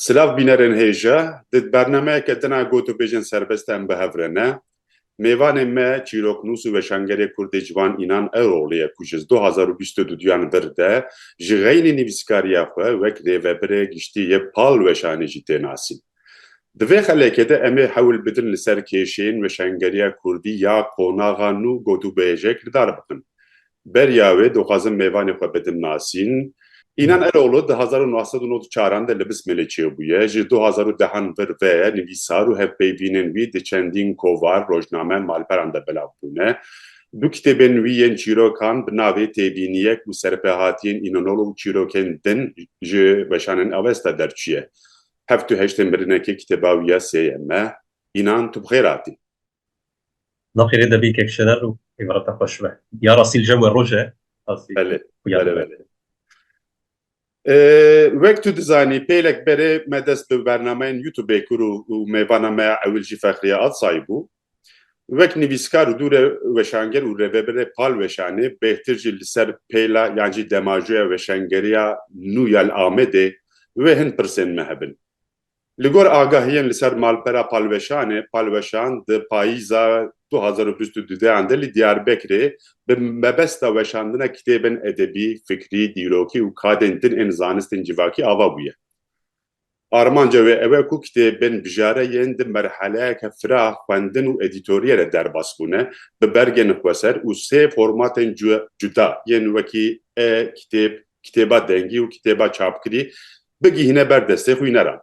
Silav bînerên hêja, di bernameyeke din a gotûbêjên serbest em bi hev re ne. Mêvanê me çîroknûs û weşangerê kurdê ciwan Înan Eroglî ye ku ji du hezar û bîst û du duyan vir de ji xeynî nivîskariya xwe wek rêvebirê giştî yê pal weşanê jî tê nasîn. Di vê xelekê de em ê hewl bidin li ser kêşên weşangeriya kurdî ya qonaxa nû gotûbêjek li dar bixin. Beriya wê dixwazin mêvanê xwe bidin nasîn. Înan Eroglu di hezar û neh sed û nod û çaran de li Bismilê çêbûye, ji du hezar û dehan vir ve ye nivîsar û hevpeyvînên wî di çendîn kovar, rojname, malperan de belav bûne. Du kitêbên wî yên çîrokan bi navê Têbîniyek û Serpehatiyên Inanolu û Çîrokên Din ji Weşanên Avesta derçûye. Heft û heştên mirinekê kitêba wî ya sê ye Me, Înan tu bi xêr hatî. Na xêrê de bî kek şerer û îbreta xwe şibe. Ya rastî li jem we roj e. Belê, belê, belê. Wek tu dizanî pêlek berê me dest bi bernameyên Youtubê kir û mêvana me ya ewil jî Fexriye Alsay bû. Wek nivîskar û dûre weşanger û rêvebirê Pal Weşanê bêhtir jî li ser pêla yan jî demajoya weşangeriya nû ya li Amedê wê hin pirsên me hebin. Li gor agahiyên li ser malpera Pal Weşanê, Pal Weşan di payîza du hezar û bîst û du deyan de li Diyarbekirê bi mebesta weşandina kitêbên edebî, fikrî, dîrokî û kadên din ên zanistên civakî ava bûye. Armanca wê ew e ku kitêbên bijare yên di merheleyeke firax, xwendin û edîtoriyê re derbas bûne, bi bergên xweser û sê formatên cuda yên wekî e-kitêb, kitêba dengî û kitêba çapkirî bigihîne ber destê xwîneran.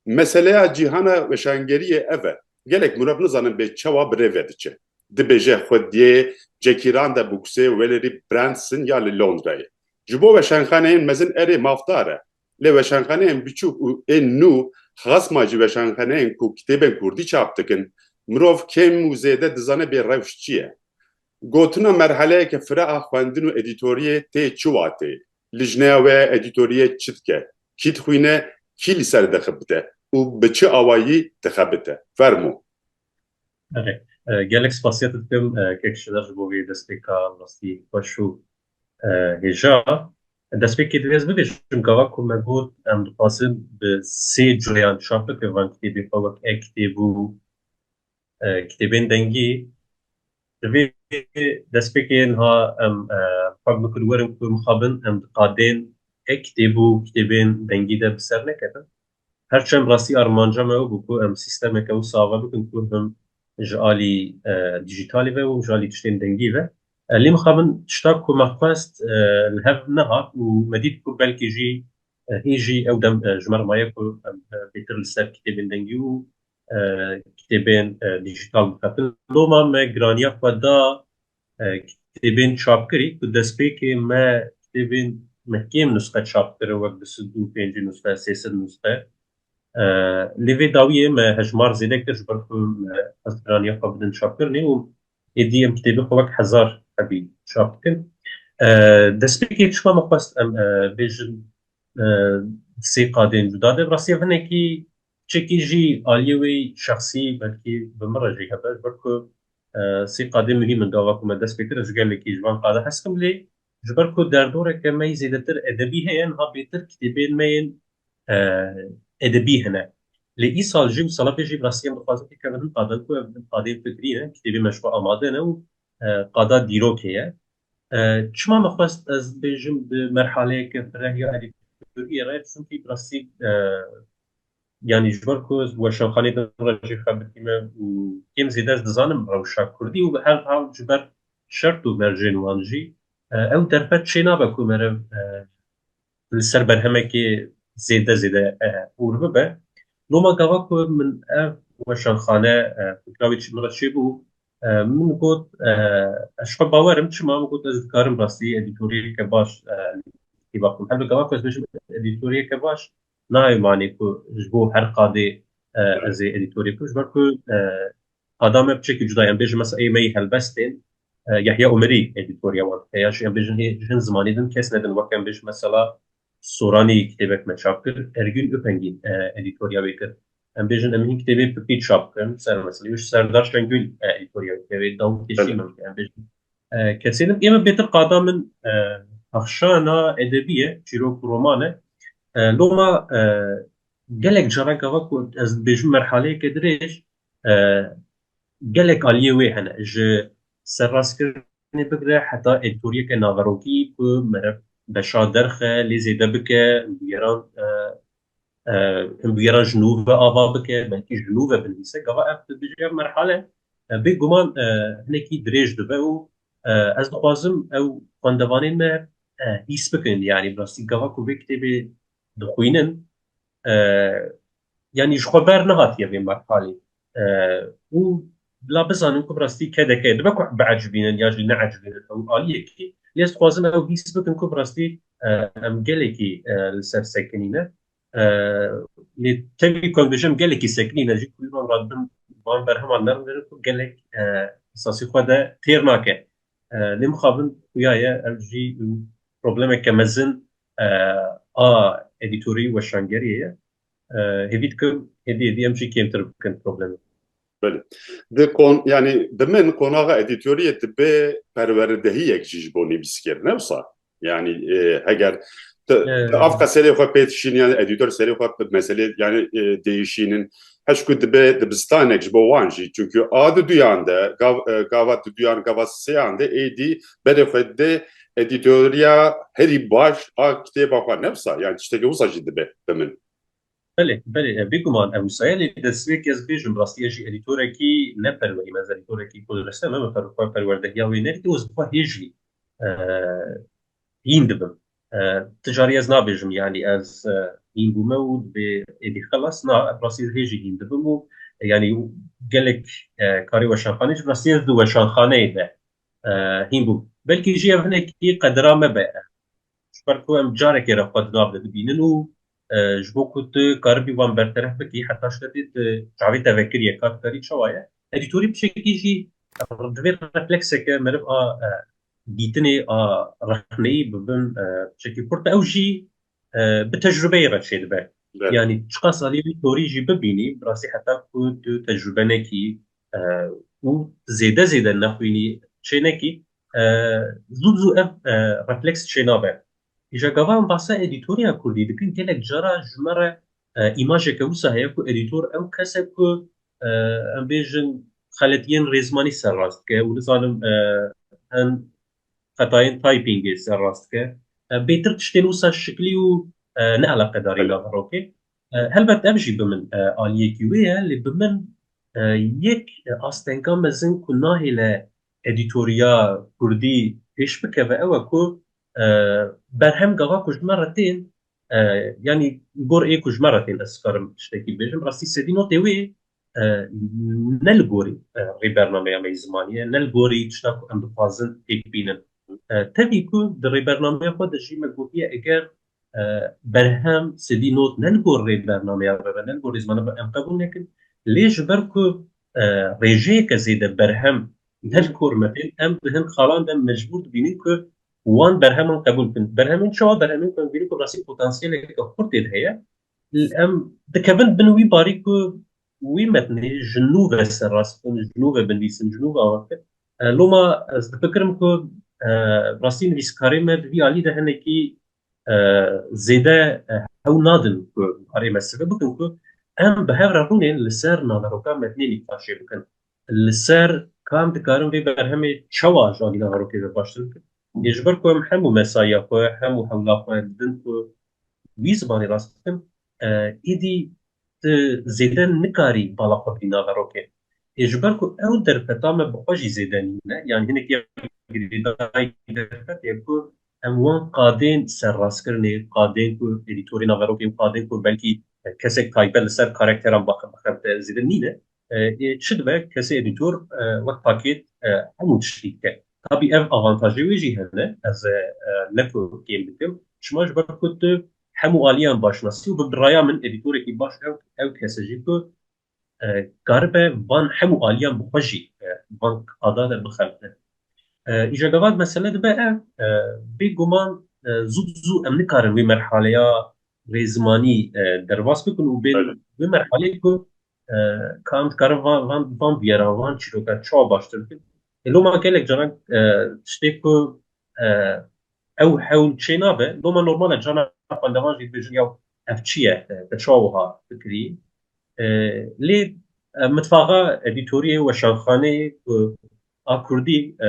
Meseleya cîhana weşangeriyê ev e, gelek mirov nizanin bê çawa bi rê ve diçe. Dibêje xwe diyê Cekîran de bûksê Welery Branson ya li Londrayê. Ji bo weşanxaneyên mezin erê mafdar e, Lê weşanxaneyên biçûk û ên nû xasma ji weşanxaneyên ku kitêbên kurdî çap dikin, mirov kêm û zêde dizane bê rewş çi ye. Gotina merheleyeke fira a xwendin û edîtoriyê tê çi watê? Li jineya we edîtoriyê çi dike? Kî dixwîne, kî li ser dixebite û bi çi awayî dixebite? Fermo. Erê, gelek spasiya te dikim Kek Şiler ji bo vê destpêka rastî xweş û hêja. Em destpêkê divê ez bigiş, çimka wek ku me got em dixwazin bi sê coyan çap bikin van kitêbê xwe wek e-kitêb û kitêbên dengî. Divê destpêkê niha em xwe bikin werin ku mixabin em di qadên e-kitêb û kitêbên dengî de bi ser nekevin. Her çend rastî armanca me ew bû ku em sîstemeke wisa ava bikin ku him ji alî dîjîtalî ve û him ji alî tiştên dengî ve. Lê mixab in tişta ku me xwest li hev nehat û me dît ku belkî jî hê jî ew dem ji me re maye ku em bêtir li ser kitêbên dengî û kitêbên dîjîtal bixebin. Loma me giraniya xwe da Kitêbên çapkirî ku destpêkê me kitêbên me kêm nusxe çap kirin wek du sed û pêncî nusxe, sê sed nusxe. Lê vê dawiyê me hejmar zêde kir ji ber ku me xwest piraniya xwe bidin çapkirinê û êdî em kitêbê xwe wek hezar hebî çap dikin. Destpêkê çima me xwest em bêjin di sê qadên cuda de, bi rastî ev hinekî Çekî jî aliyê wê şexsî belkî bi min re jî hebe ji ber ku sê qadê muhîm in gava ku me dest pê kir ji gelekî ji van qada hez kim lê ji ber ku derdoreke me yî zêdetir edebî heye niha bêtir kitêbên me yên edebî hene lê îsal jî û sala pê jî bi rastî em dixwazin pêkevin hin qadan ku ev qadeyên fikrî ne kitêbên me ji xwe amade ne û qada dîrokê ye Çima min xwest ez bêjim di merhaleyeke birehî a Dîktatûriyê re çunkî bi rastî yanî ji ber ku ez weşanxaneyê din re jî xebitîme û kêm zêde ez dizanim rewşa kurdî û bi her hal ji ber şert û mercên wan jî ew derfet çênabe ku merev li ser berhemekê zêde zêde hûr bibe. Loma gava ku min ev weşanxane fikrawî çi min re çêbû min got ez xwe bawer im çima min got ez dikarim rastî edîtoriyeke baş kîva bikim. Her bi gava ku ez bijim edîtoriyeke baş nayê manê ku ji bo her qadê ez ê edîtorê bikim ji ber ku Qada me bi çekî cuda ye. Em bêjin mesa ê me yê helbest tên. Yahya Umerî edîtoriya wan dike ya jî em bêjin hê hin zimanî din kes nedin weke em bêjin mesela Soranî kitêbek me çap kir, Ergün Ipengî edîtoriya wê kir. Em bêjin em hin kitêbê Pipî çap bikin ser meselê wê jî Serdar Şengül edîtoriya wê dike wê Dawit Teşî min dike em bêjin kesê din. Ême bêtir qada min pexşana edebî ye çîrok û roman e. Loma gelek caran gava ku ez dibêjim merhaleyeke dirêj Gelek aliyê wê hene ji serrastkirinê bigire heta edtoriyeke naverokî ku meriv beşa derxe lê zêde bike, bûyeran bûyeran ji nû ve ava bike, belkî ji nû ve binivîse. Gava ev di dijî ev merhale bê guman hinekî dirêj dibe û ez dixwazim ew xwendevanên me hîs bikin. Yanî bi rastî gava ku vê kitêbê dixwînin Yanî ji xwe ber nehatiye vê merhalê û bila bizanin ku bi rastî kedeke dibe ku biecibînin ya jî neecibînin ew aliyekî lê dixwazin ew hîs bikin ku bi rastî em gelekî li ser sekinîne lê tevî ku em dijim gelekî sekinîne jî ku wan radibin wan berheman nermirin ku gelek esasî xwe de têr nake lê mixabin xuya ye ev jî problemeke mezin a edîtorî weşangeriyê ye Hêvî dikim, hêdî hêdî em jî kêmtir bikin problemê. Belê. Di kon yanî di min qonaxa edîtoriyê dibe perweredehiyek jî ji bo nivîskir ne wisa. Yanî heger av qe serê xwe pê dişîn yanî edîtor serê xwe bi meselê yanî değişînin heşkû dibe dibistanek ji bo wan jî çunkî a di duyan de gava di duyan gava seyan de êdî berê xwe dê edîtoriya herî baş a kitêba xwe ne wisa yan tiştekî wisa jî dibe bi min. Belê, belê e, bêguman e wisa ye lê dest vê kes bêjim bi rastî ez jî edîtorekî ne perwerî me ez edîtorekî ku direste me me per xwe perwerdehiya wê nedî ez bi xwe hêjî hîn dibim ti carî ez nabêjim yanî ez hîn bûme û dibê êdî xelas na bi rastî ez hêjî hîn dibim û yanî gelek karê weşanxanê ji bi rastî ez di weşanxaneyê de hîn bû. Belkî jî ev hinekî qedira me be. Ji ber ku em carekê re xwe di nav de dibînin û ji bo ku tu karibî wan berteref bikî heta şevê tu çavê te vekiriye ka dikarî çawa ye. Edîtorî pişekî jî divê reflekseke meriv a dîtinê a rexneyî bi bin pişekî xurt be. Ew jî bi tecrübeyê re çêdibe. Yanî çiqas aliyê wî torî jî bibînî bi rastî heta ku tu tecrübe nekî û zêde zêde nexwînî çê nekî zû bi zû ev refleks çênabe. Îja gava em bahsa edîtoriya kurdî dikin gelek cara ji me re îmajeke wisa heye ku edîtor ew kes e ku em bêjin xeletiyên rêzmanî serrast dike û nizanim hin xetayên typingê serrast dike. Bêtir tiştên wisa şiklî û neeleqedarî naveroke. Helbet ev jî bi min aliyekî wê ye lê bi min yek astenka mezin ku nahêle edîtoriya kurdî pêş bikeve ew e ku berhem gava ku ji me re tên yanî gor ê ku ji me re tên ez karim tiştekî bibêjim rastî sedî notê wê ne li gorî rê bernameya me yê zimanî ye ne li gorî tişta ku em dixwazin têk bînin. Tevî ku di rêbernameya xwe de jî me gotiye eger berhem sedî not ne li gor rê bernameya me be ne li gor rê zimana be em qebûl nekin lê ji ber ku rêjeyeke zêde berhem ne li gor me tên em di hin xalan de mecbûr dibînin ku wan berheman qebûl bikin. Berhemên çawa berhemên ku em bînin ku rastî potansiyeleke xurt tê de heye Em dikevin bin wî barî ku wî metnê ji nû ve serrast bin, ji nû ve binivîsin, ji nû ve ava bikin. Loma ez difikirim ku rastî nivîskarê me di vî alî de hinekî zêde hew nadin ku karê me sibe bikin ku em bi hev re rûnên li ser naveroka metnê nîqaşê bikin. Li ser kam dikarin vê berhemê çawa ji alî naverokê ve baştir bikin. Lê ji ber ku em hemû mesaiya xwe, hemû hewla xwe didin ku wî zimanê rast bikin, êdî tu zêde nikarî bala xwe bidî nava rokê. Ê ji ber ku ew derfeta me bi xwe jî zêde nîn e, yan hinek ya girêdayî derfet ye ku em wan qadên serrastkirinê, qadên ku edîtorê nava rokê û qadên ku belkî kesek taybet li ser karekteran bixebite zêde nîn e. Çi dibe kesê edîtor wek pakêt hemû tiştî dike. Tabî ev avantajê wê jî hene, ez ne ku kêm dikim, çima ji ber ku tu hemû aliyan baş nasî û bi raya min edîtorekî baş ew kes e jî ku karibe van hemû aliyan bi xwe jî van qada de bixebitin. Îja gava mesele dibe ev, bêguman zû bi zû em nikarin wê merhaleya rêzimanî derbas bikin û bên wê merhaleyê ku Kan dikarin van van van biyera van çîroka çawa baştir bikin. E, Loma gelek caran e, tiştê ku e, ew hewl çê nabe loma normale cana xwendevan jî dibêjin ya ev çi ye e, te çawa wiha fikirî. E, Lê e, mitfaxa edîtoriyê weşanxaneyê ku a Kurdî e,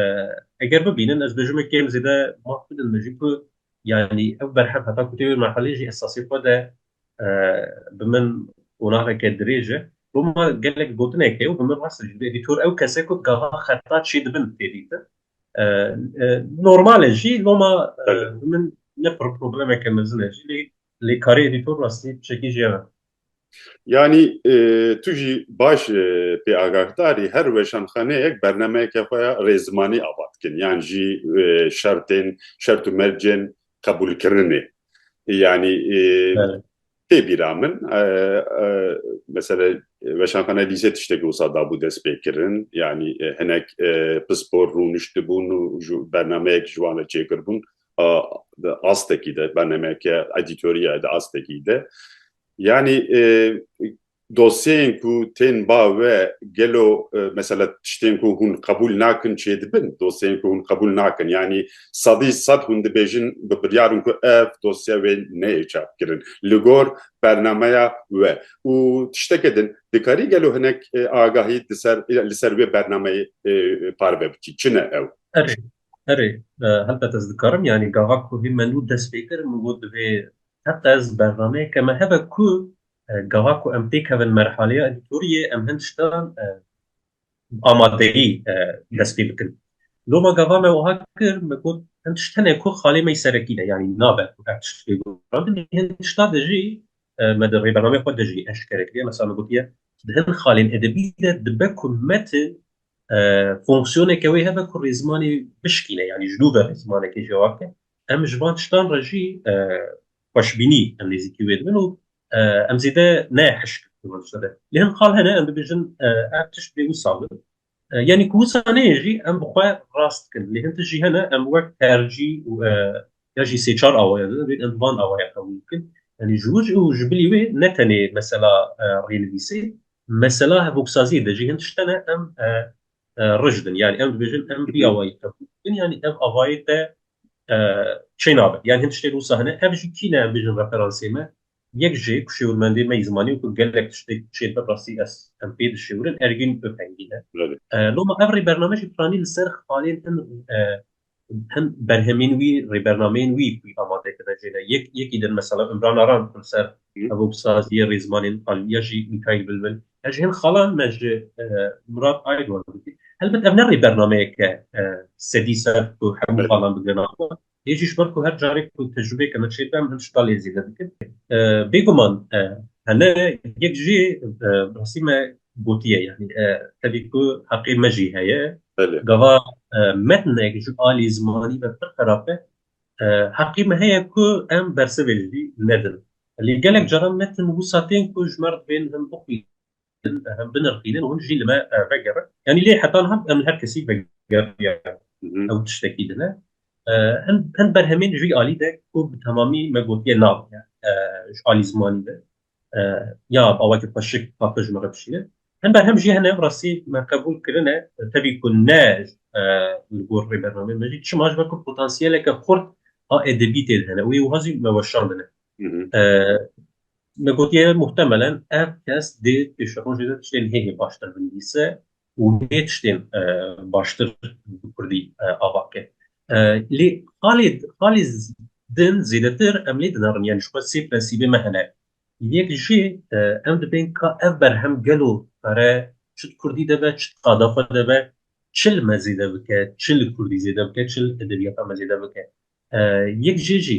eger bibînin ez dibêjim kêm zêde maf bidin min jî ku yanî ew berhem heta ku tê wê merhelê jî esasê xwe de Bi min qonaveke dirêj e. Bo me gelek gotinek heye û bi min rast e. Ji ber edîtor ew kes e ku di gava xeta çê dibin tê dîtin. Normal e jî loma bi min ne problemeke mezin e jî lê lê karê edîtor rastî tişekî jê ye. Yanî tu jî baş pê agakdar î her weşanxaneyek bernameyeke xwe ya rê zimanî ava dikin yan jî şertên şert û mercên qebûlkirinê. Yanî tê bîra min mesela weşanxaneya lîzê tiştekî wisa dabû destpêkirin yanî hinek pispor rûniştibûn û ji bernameyek ji wan re çêkirbûn di astekî de bernameyeke edîtorîyayê di astekî de yanî Dosyeyên ku tên ba we gelo mesela tiştên ku hûn qebûl nakin çêdibin? Dosyeyên ku hûn qebûl nakin yanî sedî sed hûn dibêjin bi biryar in ku ev dosye wê neyê çapkirin li gor bernameya we û tişteke din dikarî gelo hinek agahî di ser li ser wê bernameyê parve bikî çi ne ew? Erê erê helbet ez dikarim yanî gava ku hê me nû dest pê kirin min got divê heqez bernameyeke me hebe ku Gava ku em têkevin merhaleya edîtoriyê em hin tiştan bi amadeyî dest pê bikin. Loma gava me wiha kir me got hin tişt hene ku xalê me yî serekî ne yanî nabe ku ev tişt pê guherandin hin tişta de jî me di rêbernameyê xwe de jî eşkere kiriye. Mesela me gotiye di hin xalên edebî de dibe ku metin fonksiyoneke wê hebe ku rêzimanê bişkîne yanî ji nû ve rêzimanekê jê wake. Em ji van tiştan re jî xweşbînî em nêzîkî wê dibin û em zêde ne hişk dibin sere. Lê hin xal hene em dibêjin ev tişt bê wisa bin. Yanî ku wisa neyê jî em bi xwe rast dikin. Lê hin tişt jî hene em wek tercî û ya jî sê çar awaya de divê em bi van awaya qebûl bikin. Yanî ji wir û ji bilî wê ne tenê mesela rênivîsê, mesela hevgoksaziyê de jî hin tişt hene em rijd in. Yanî em dibêjin em vî awayî qebûl bikin yanî ev avayê te çê nabe yan hin tiştê wisa hene ev jî kî ne em bêjin referansê me yek jê ku şêwirmendê me yî zimanî û ku gelek tiştê çê bi rastî ez em pê dişêwirin Ergîn Ipengî ne loma ev rê bername jî piranî li ser xalên hin hin berhemên wî rêbernameyên wî ku amade kine jê ne yek yekî din mesela Imran Aran li ser ev saziyê rêzmanên aliya jî Mîkaîl Bilbil Ez ji hin xalan me ji Murat Aydoğan dikî. Helbet ev ne rê bernameyeke sedî ser ku hemû xalan bigrin axwe. Yê jî ji ber ku her carê ku tecrûbeyeke me çêdibe em him ji xalê zêde dikin. Bêguman hene yek jî bi rastî me gotiye yanî tevî ku heqê me jî heye. Gava metnek ji alî zimanî ve pir xerab be. Heqî me heye ku em bersivê ji vî nedin. Lê gelek caran metin wisa tên ku ji me re divên him bixwînin, him binirxînin û him jî li me vegerin. Yanî lê heta niha em li her kesî vegeriyan. Ew tiştekî din e. Hin berhemên ji vî alî de ku bi temamî me gotiye nabin, ji alî zimanî de ya awakî xweşik paqij me re bişîne hember hem jî hene rastî me qebûl kirine tevî ku ne li gor rê bernameyê me jî çima ji ber ku potansiyeleke xurt a edebî tê de hene wê wiha jî me weşandine me gotiye muhtemelen ev kes dê pêşerojê de tiştên hê hê baştir binivîse û nê tiştên baştir bi kurdî ava ke. Lê xalê xalê din zêdetir em lê dinerin yanî ji xwe sê prensîbê me hene. Yek jî em dibên ka ev berhem gelo pere çi di kurdî de be çi di qada xwe de be çi li me zêde bike çi li kurdî zêde bike çi li edebiyata me zêde bike. Yek jê jî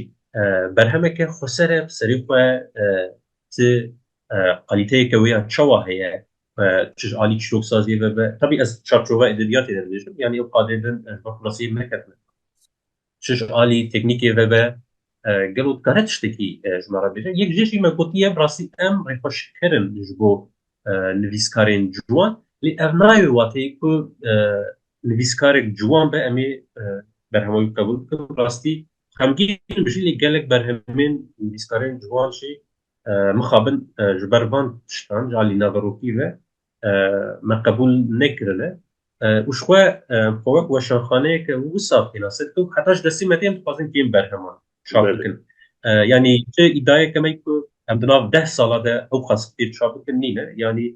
berhemeke xweser e bi serê xwe ti qalîteyeke wê ya çawa heye çi ji alî çîroksaziyê ve be tevî ez çarçova edebiyatê de dibêjim yanî ew qadê din ji ber klasiyê neketime çi ji alî teknîkê ve be gelo dikare tiştekî ji me re bêje yek jê jî me gotiye bi rastî em rêxweşkirin ji bo nivîskarên ciwan lê ev nayê wateyê ku nivîskarek ciwan be em ê berhema wî qebûl bikin bi rastî xemgîn bijî lê gelek berhemên nivîskarên ciwan jî Mixabin ji ber van tiştan ji alî naverokî ve me qebûl nekirine û ji xwe xwe wek weşanxaneyeke wisa têna ser û heta ji destê me tê em dixwazin kêm berheman çap bikin. Yanî tu îdayeke me ku em di nav deh sala de ew xas kitêb çap bikin nîne. Yanî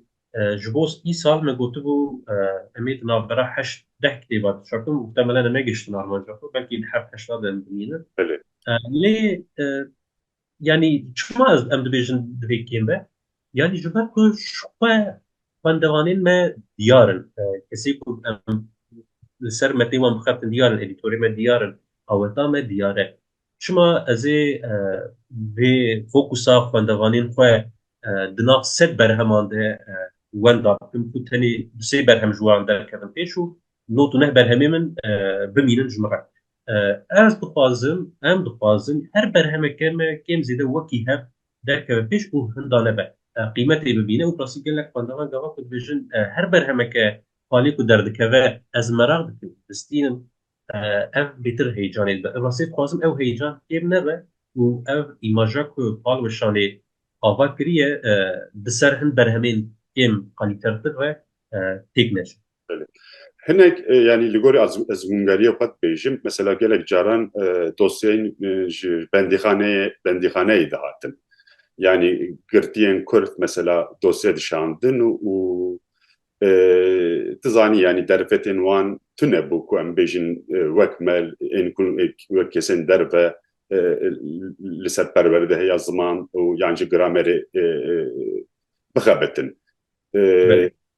ji bo îsal me gotibû em ê di navbera heşt deh kitêba de çap bikin û muhtemelen em negihiştin armanca xwe belkî di heft heşta de em dimînin. Lê Yanî çima ez em dibêjin divê kêm be? Yanî ji ber ku xwe xwendevanên me diyar in. Kesê ku em li ser metê wan bixebtin diyar in, edîtorê me diyar in, aweta me diyar e. Çima ez ê vê fokusa xwendevanên xwe di nav sed berheman de wenda bikim ku tenê du sê berhem ji wan derkevin pêş û not û neh berhemê min bimînin ji min re. Ez dixwazim, em dixwazin her berhemeke me kêm zêde wekî hev derkeve pêş û hindane be qîmetê bibîne û plasî gelek xwendevan gava ku dibêjin her berhemeke palê ku derdikeve ez meraq dikim, bistînim ev bêtir heyecanê dibe. Bi rastî dixwazim ew heyecan kêm nebe û ev îmaja ku pal weşanê ava kiriye bi ser hin berhemên kêm qalîtertir re têk neçe. Belê. Hinek yanî li gorî ezmûngeriyê xwe dibêjim, mesela gelek caran dosyeyên ji bendîxaneyê bendîxaneyê dihatin. Yanî girtiyên kurd mesela dosye dişandin û tu zanî yanî derfetên wan tune bû ku em bêjin wek me ên ku wek kesên derve li ser perwerdehiya ziman û yan jî gramerê bixebitin.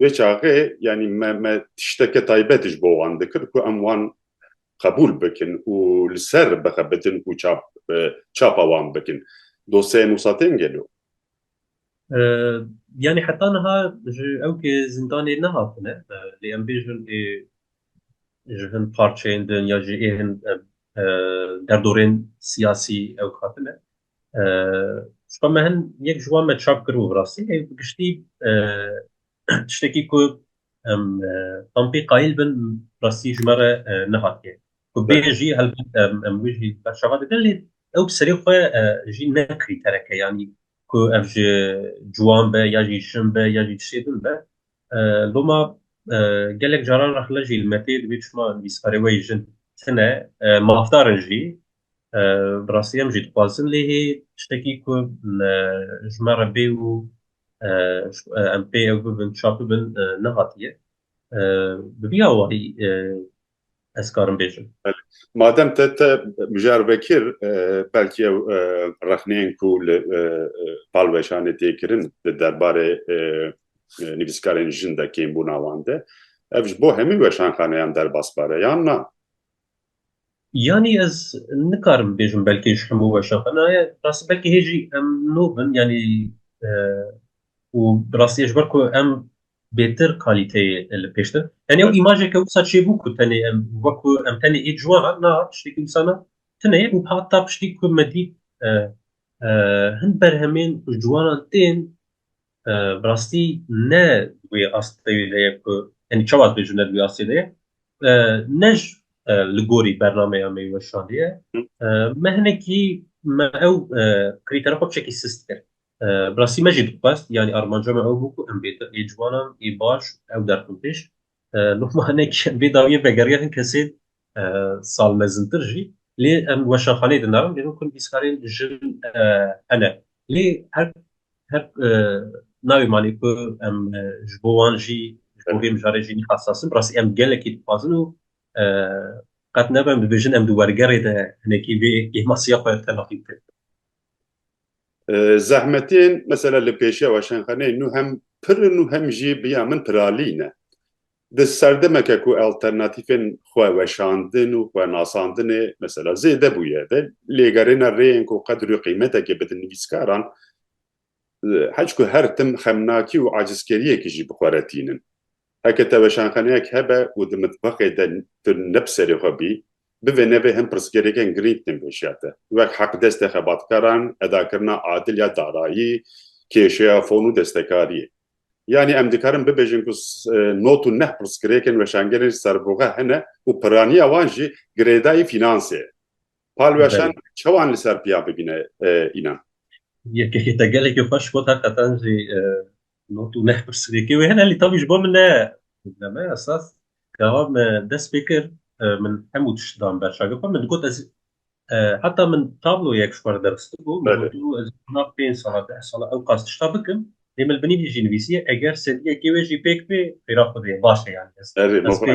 Vê çaxê yanî me me tişteke taybet ji bo wan dikir ku em wan qebûl bikin û li ser bixebitin û çap çapa wan bikin. Dosyayê Mûsa tên gelo? Yanî heta niha ji ewkê zindanê nehatine lê em bêjin ê ji hin parçeyên din ya jî ê hin derdorên siyasî ewk hatine. Ji xwe me hin yek ji wan me çap kir û bi rastî hê bi giştî tiştekî ku em tam pê qayîl bin rastî ji me re nehatiye. Ku bê jî helbet em wê jî berçava dikin lê ew bi serê xwe jî ne krîtereke yanî ku ev ji ciwan be ya jî jin be ya jî tiştê din be. Loma gelek caran rexne jî li me tê dibê çima nivîskarê we yê jin tune mafdarin jî Bi rastî em jî dixwazin lêhê tiştekî ku ji me re bê û em pê ew bibin çap bibin nehatiye. Bi vî awayî ez karim bêjim. Madem te te mijar vekir belkî ew rexneyên ku li Palweşanê tê kirin di derbarê nivîskarên jin de kêmbûna wan de ev ji bo hemî weşanxaneyan derbas bare yan na? Yanî ez nikarim bibêjim belkê ji hemû weşan xwe naye. Rastî belkî hê jî em nû bin yanî û bi rastî ji ber ku em bêtir kalîteyê li pêş din. Yanî ew îmajeke wisa çêbû ku tenê em wekû em tenê ê ciwan na tiştekî wisa na tune ye û heta piştî ku me dît hin berhemên ku ji ciwanan tên Bi rastî ne wê asteyê de ye ku yani çawa ez bêjim ne di wê astê de ye. Ne ji li gorî bernameya me yê weşanê ye. Me hinekî me ew krîtera xwe çekî sist kir. Bi rastî me jî dixwest yanî armanca me ew bû ku em bê di ê ciwanan ê baş ew derxin pêş Lukmanek vê dawiyê vegeriya hin kesên sal mezintir jî lê em weşanxaneyê di narin lê ku nivîskarên jin hene lê her her navê malê ku em ji bo wan jî ji bo vê mijarê jî nîqasas in bi rastî em gelekî dixwazin û qet nebe em dibêjin em di wergerê de hinekî vê kêmasiya xwe telaqî bikin. Zehmetên mesela li pêşewa Şenxeneyê nû hem pir in û hem jî bi ya min piralî ne. Di serdemeke ku alternatîfên xwe weşandin û xwe nasandinê mesela zêde bûye ve lêgerêne rêyên ku qedr û qîmetekê bidin nivîskaran hicku her tim xemnakî û acizkeriyekî jî bi xwe re tînin. Heke teweşanxaneyek hebe û di mitbaxê de tu ne bi serê xwe bî, bi vê navê hin pirsgirêkên girîng tên pêşiya te, wek heqdestê xebatkaran, edakirina adil ya darayî, kêşeya fon û destekariyê. Yanî em dikarin bibêjin ku not û neh pirsgirêkên weşangerên serbuxe hene û piraniya wan jî girêdayî fînansê ye. Palweşan çawan li ser piya bigine înan? Yekî te gelekî xweş got, heqetan jî No tu neh pirsgirêkê wê hene lê tavî ji bo min ne probleme esas gawa me dest pê kir min hemû tişt dan ber şagir xwe min digot ez heta min tabloyek ji xwe re derxistibû min got tu ez na pênc sala deh sala ew qas tişta bikim lê min li binî vê jî nivîsiye eger sediyekê wê jî pêk bê xêra xwedê baş e yani ez ez pê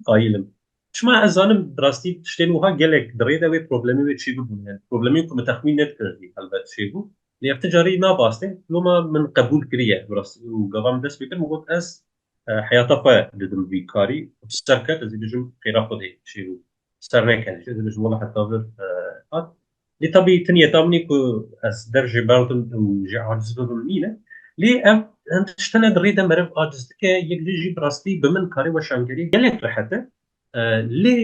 qayilim Çima ez zanim bi rastî tiştên wiha gelek bi rê de wê problemê wê çêbû bûn hene. Problemên ku min texmîn nedikirdî helbet çêbû. Lê ev ti carî nabastê. Loma min qebûl kiriye bi rastî û gava min dest pê kir min got ez heyata xwe didim vî karî bi ser ket ez ê bijim xêra xwedê çêbû. Bi ser neketî ez ê bijim wela heta vir hat Lê tabî tin yê tabînî ku ez der jê berdim û jê aciz bibim nîne. Lê ev hin tişta ne di rê de meriv aciz dike, yek din jî bi rastî bi min karê weşangerî gelek rehet e. Lê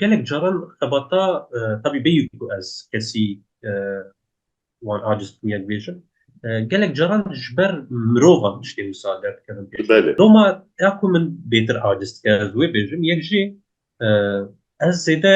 gelek caran xebata tabî bêyî ku ez kesî wan aciz bikim ya dibêjim, gelek caran ji ber mirovan tiştê wisa derdikevin pêş. Doma ya ku min bêtir aciz dike ez wê bêjim, yek jî ez zêde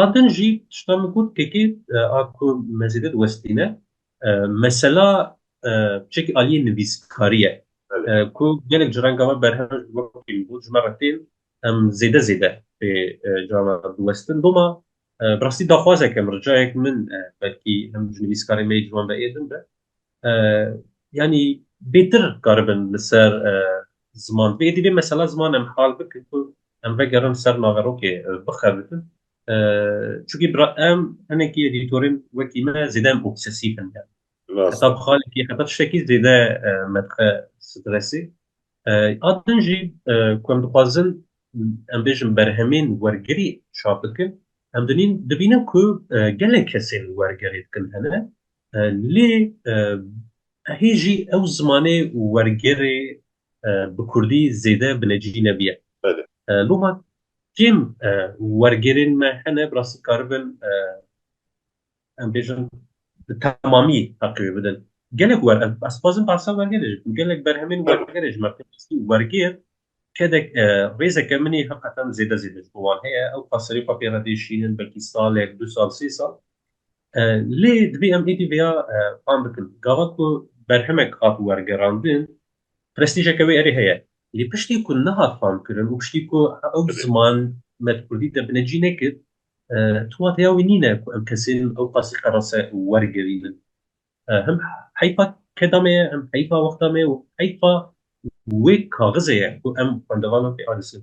A din jî tişta min got KK a ku mezêde diwestîne mesela çekî aliyê nivîskarî ye ku gelek ji renga me berhev ji bo kêm bû ji me re têm em zêde zêde pê cava diwestin doma bi rastî daxwazek e min ricayek min belkî him ji nivîskarê me yê ciwan ve êdin be. Yanî bêtir karibin li ser ziman bi êdî vê mesela ziman em hal bikin ku em vegerin ser naverokê bixebitin çunkî bira em hinekî edîtorên wekî me zêde em obsesîf in yani heta bi xalekî heta tiştekî zêde me dixe stresî a din jî ku em dixwazin em bêjin berhemên wergirî çap bikin em dinîn dibînin ku gelek kesên wergerê dikin hene Lê hê jî ew zimanê û wergerê bi kurdî zêde binecî nebiye. Loma kêm wergerên me hene bi rastî dikaribin em bêjin bi temamî heqê wê bidin. Gelek ez dixwazim behsa wergerê jî bikim. Gelek berhemên wergerê ji me pê xistin. Wergêr Kedek rêzeke min ê heqetan zêde zêde ji bo wan heye. Ew ka serê xwe pê re tê şînin belkî salek, du sal, sê sal. Lê divê em êdî vêya fam bikin. Gava ku berhemek hat wergerandin prestîjeke wê erê heye. Lê piştî ku nehat famkirin û piştî ku ew ziman me di kurdî de binecî nekir, tu wateya wî nîne ku em kesên ew qasî qerase wergerînin. Him heyfa keda me ye, him heyfa wexta me û heyfa wê kaxizê ye ku em xwendevanan pê anîsin.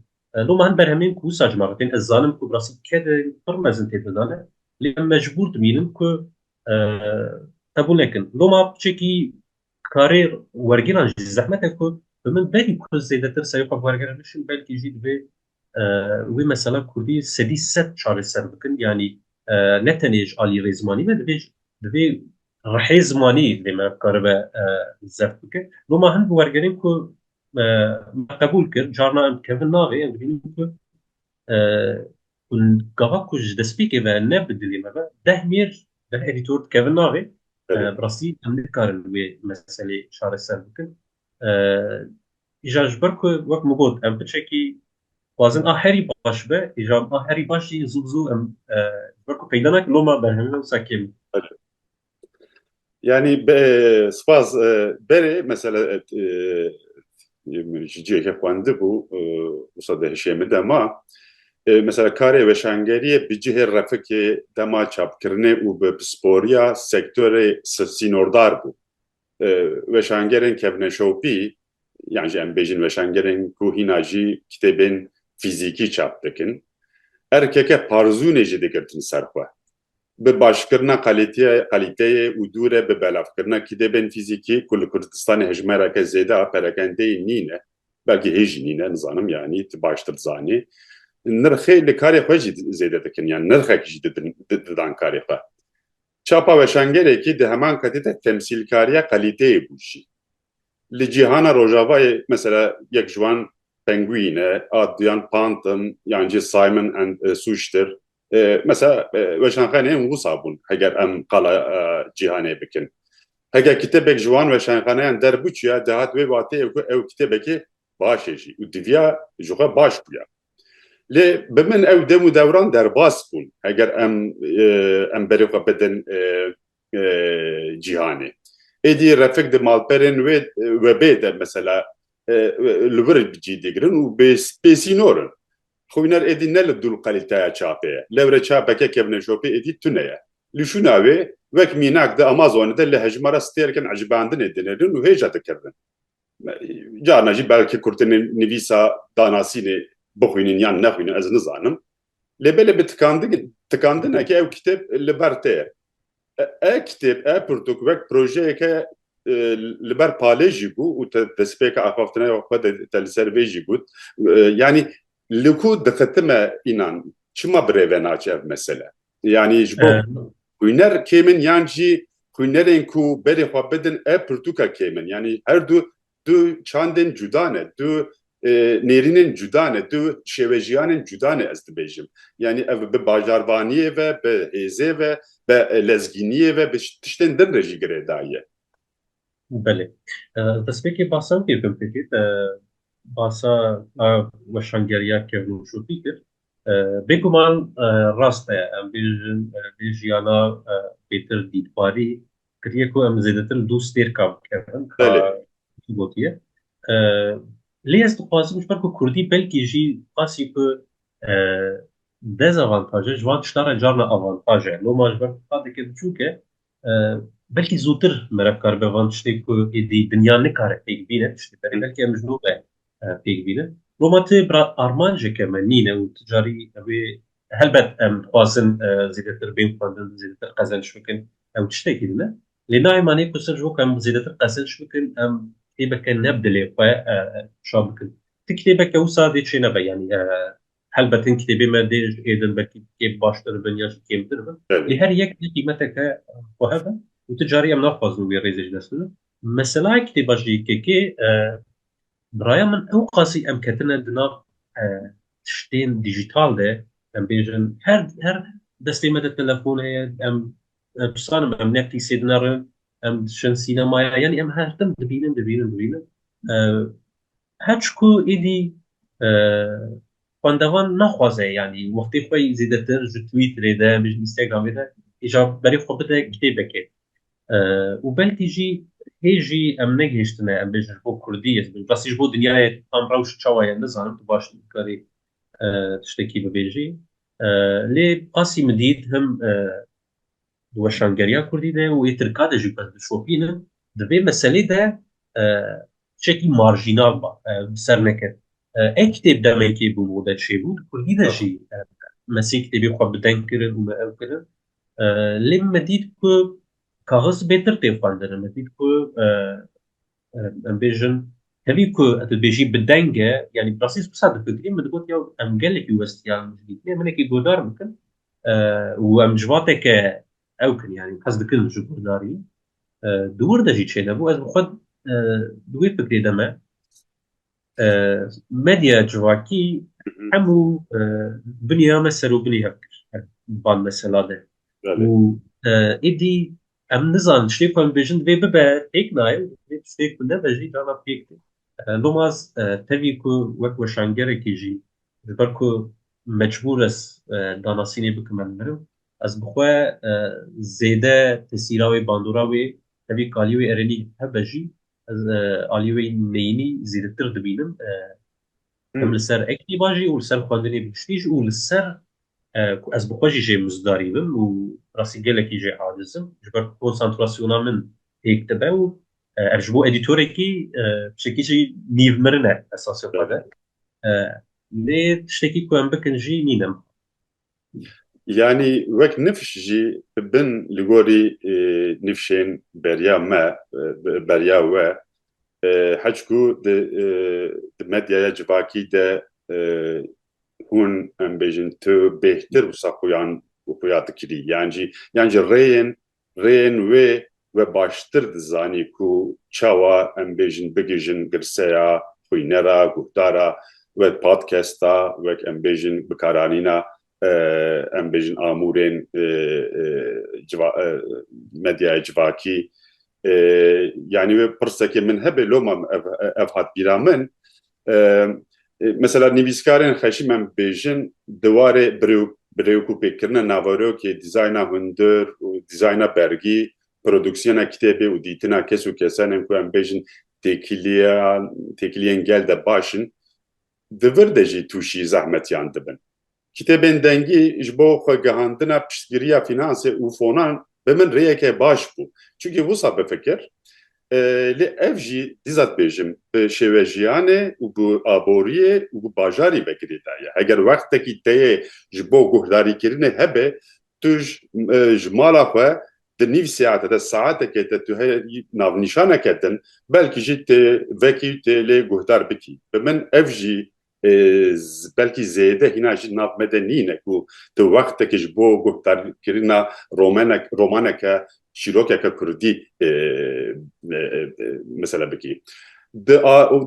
Loma hin berhemên ku wisa ji me re tên, ez zanim ku bi rastî kedên pir mezin tê dana, lê em mecbûr dimînin ku qebûl nekin. Loma piçekî karê wergîran jî zehmet e ku bi min berî ku zêdetir serê xwe bi wergera bişim belkî jî divê Wê mesela kurdî sedî sed çareser bikin yanî ne tenê ji aliyê rê zimanî me divê di vê rihê zimanî divê me bikaribe zeft bike. Bo ma hin bi wergerên ku me qebûl kir carna em dikevin navê em dibînin ku gava ku ji destpêkê ve ne bi dilê me be deh mêr deh edîtor dikevin navê. Bi rastî em nikarin wê meselê çareser bikin. Îja ji ber ku wek min got em biçekî xwazin a herî baş be, îja a herî baş jî zû bi zû em ji ber ku peyda nake loma berhemîna wisa kêm in. Yanî spas berê mesela ji cihê xwendibû wisa di hişê min de ma mesela karê weşangeriyê bi cihê refikê dema çapkirinê û bi pisporiya sektorê sînordar bû. Weşangerên kevneşopî yan jî em bêjin weşangerên ku hîna jî kitêbên fîzîkî çap dikin, erkeke parzûnê jî digirtin ser xwe. Bi başkirina qalîteyê û dûre bi belavkirina kitêbên fîzîkî ku li Kurdistanê hejmereke zêde a perekendeyî nîne, belkî hê jî nîne nizanim yanî tu baştir dizanî, nirxê li karê xwe jî zêde dikin yan nirxek jî didin didan karê xwe. Çapa weşangerekî di heman ketê de temsîlkariya qelîteyê bû jî. Li cîhana rojavayê mesela yek ji wan Penguin e, a duyan Pantin yan jî Simon and Schuster. Mesela weşanxaneyên wisa bûn heger em qala cîhanê bikin. Heger kitêbek ji wan weşanxaneyan derbûçiya dihat wê wateyê ku ew kitêbekê baş e jî û diviya ji xwe baş bûya. Lê bi min ew dem û dewran derbas bûn heger em em berê xwe bidin cîhanê. Êdî refik di malperên wê webê de mesela li wir cî digirin û bêsînor in. Xwîner êdî ne li dûl qelîteya çapê ye. Lewre çapeke kevneşopê êdî tune ye. Li şûna wê wek mînak di Amazonê de li hejmara stêrkin ecibandinê dinêrin û hêja dikirin. Carna jî belkî kurtinê nivîsa danasînê bixwînin yan nexwînin ez nizanim. Lê belê bi tikandinekê ew kitêb li ber te ye. E kitêb, e pirtûk wek projeyeke li ber palê jî bû û te destpêka axaftinaya xwe de te li ser vê jî got. Yanî li ku dixitime înan, çima bi rê ve naçe ev mesele? Yanî ji bo xwîner kêm in yan jî xwînerên ku berê xwe bidin ev pirtûka kêm in. Yanî her du du çandên cuda ne, du nêrînên cuda ne, du şêwejiyanên cuda ne ez dibêjim. Yanî ev bi bajarvaniyê ve, bi hêzê ve, bi lezgîniyê ve, bi tiştên din re jî girêdayî ye. Belê. Destpêkê basa wekî bikim pêkê te basa a weşangeriya kevnûşûtî kir. Bêguman rast e em bêjin lê jiyana pêtir dîtbarî kiriye ku em zêdetir li dû stêrka bikevin ka wekî gotiye. Lê ez dixwazim ji ber ku kurdî belkî jî qasî ku dezavantaj e ji van tiştan re carna avantaj e. Loma ji ber ku qadeke biçûk e Belkî zûtir me re karibe van tiştê ku êdî dinya nikare pêk bîne tiştê berê belkî em ji nû ve pêk bînin. Roma ti bira armanceke me nîne û ti carî ew ê helbet em dixwazin zêdetir bên xwendin, zêdetir qezenç bikin ew tiştekî din e. Lê nayê manê ku sirf ji bo ku em zêdetir qezenç bikin em kitêbeke ne bi dilê xwe çap bikin. Ti kitêbeke wisa dê çênebe yanî Helbet hin kitêbê me dê ji ê din belkî kêm baştir bin ya jî kêmtir bin. Lê her yek di qîmeteke xwe hebe û ti carî em naxwazin wê rêzê ji dest bidin. Meselaya kitêba ji YKK bi raya min ewqasî em ketine di nav tiştên dîjîtal de. Em bêjin her her destê me de telefon heye, em bizanimin em Netflîksê dinerin, em diçin sînemaya yanî em her tim dibînin, dibînin, dibînin. Her çi ku êdî xwendevan naxwaze yanî wextê xwe zêdetir ji Twitterê de ji Instagramê de îja berê xwe bide kitêbekê û belkî jî hê jî em negihiştine em bêjin ji bo Kurdî ez bêjim rastî ji bo dinyayê tam rewş çawa ye nizanim tu baş dikarî tiştekî bibêjî lê qasî min dît him Di weşangeriya kurdî de û ê tirka de jî ku ez dişopînim di vê meselê de tişekî marjînal ba bi ser nekir. Ev kitêb demekê bi mode çêbû di kurdî de jî me sê kitêbê xwe bi deng kirin û me ew kirin lê min me dît ku kaxiz bêtir tê xwendin min dît ku Em bêjin tevî ku ez dibêjî bi deng e yanî bi rastî qisa difikirî min digot ya em gelekî westiyan jidîtinê minekî godar bikin û em ji vateke ew kin yanî hez dikin ji godarî di wir de jî çênebû ez bi xwe di wê fikrê de me medya civakî hemû binîya me serûbinî hev kir ban mesela de û êdî Em nizanin tiştê ku em dibêjin divê bibe pêk nayê û divê tiştê ku nebe jî dana pêk tê. Lomaz tevî ku wek weşangerekî jî ji ber ku mecbûr ez danasînê bikim em mirim, ez bi xwe zêde tesîra wê, bandora wê tevî ku aliyê wê erênî hebe jî ez aliyê wê neyînî zêdetir dibînim. Em li ser ektîba jî û li ser xwedinê bi tiştî jî û li ser ku ez bi xwe jî jê mizdarî bim û rastî gelekî jê aciz im ji ber ku konsantrasyona min pêk dibe û ev ji bo edîtorekî tiştekî jî nîvmirin e esasê xwe de. Lê tiştekî ku em bikin jî nîn em. Yanî wek nifş jî bin li gorî nifşên beriya me, beriya we heç ku di medyaya civakî de hûn em bêjin tu bêhtir wisa xuyan xuya dikirî yan jî yan jî rêyên Rêyên wê we baştir dizanî ku çawa em bêjin bigihîjin girseya xwîne re, guhdar e, wek podcast e, wek em bêjin bikaranîna em bêjin amûrên medyaya civakî. Yanî wê pirsekê min hebe loma ev hat bîra min Mesela nivîskarên xeşî me bêjin di warê birêwk û pêkkirina naverokê, dîzayna hundir û dîzayna bergî, produksiyona kitêbê û dîtina kes û kesan ên ku em bêjin têkiliyan têkiliyên gel de baş in, di vir de jî tûşî zehmetiyan dibin. Kitêbên dengî ji bo xwegihandina piştgiriya fînansê û fonan bi min rêyeke baş bû. Çunkî wisa bifikir lê ev jî dîza dibêjim bi şêwejiyanê û bi aboriyê û bi bajarî ve girê da ye. Heger wextekî te yê ji bo guhdarîkirinê hebe tu ji mala xwe di nîv seate de saetekê de tu herî navnîşaneke din belkî jî tê vekî û tê lê guhdar bikî. Bi min ev jî belkî zêde hîna jî nav me de nîne ku tu wextekî ji bo guhdarkirina romenek romaneke çîrokeke kurdî mesele bikî. Di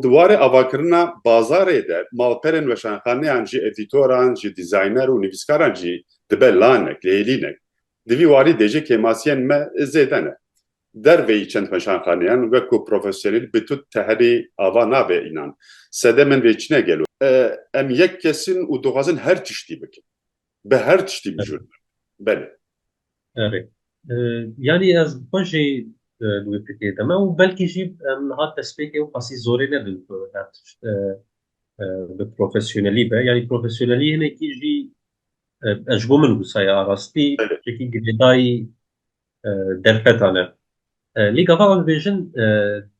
di warê avakirina bazarê de malperên weşanxaneyan jî edîtoran jî dîzayner û nivîskaran jî dibe lanek lêlînek. Di vî warî dê jî kêmasiyên me zêde ne. Derveyî çend meşanxaneyan weko profesyonel bi tu teherî ava nabe înan. Sede min vê çine gelo. Em yek kes in û dixwazin her tiştî bikin. Bi her tiştî bijûr bikin. Belê. Erê. Yanî ez xwe jî li wê fikê de me û belkî jî em niha destpêkê qasî zorê nedin ku her tişt bi profesyonelî be. Yanî profesyonelî hinekî jî ez ji bo min wisa ye. Rastî yekî girêdayî derfetan e. Lê gava wan dibêjin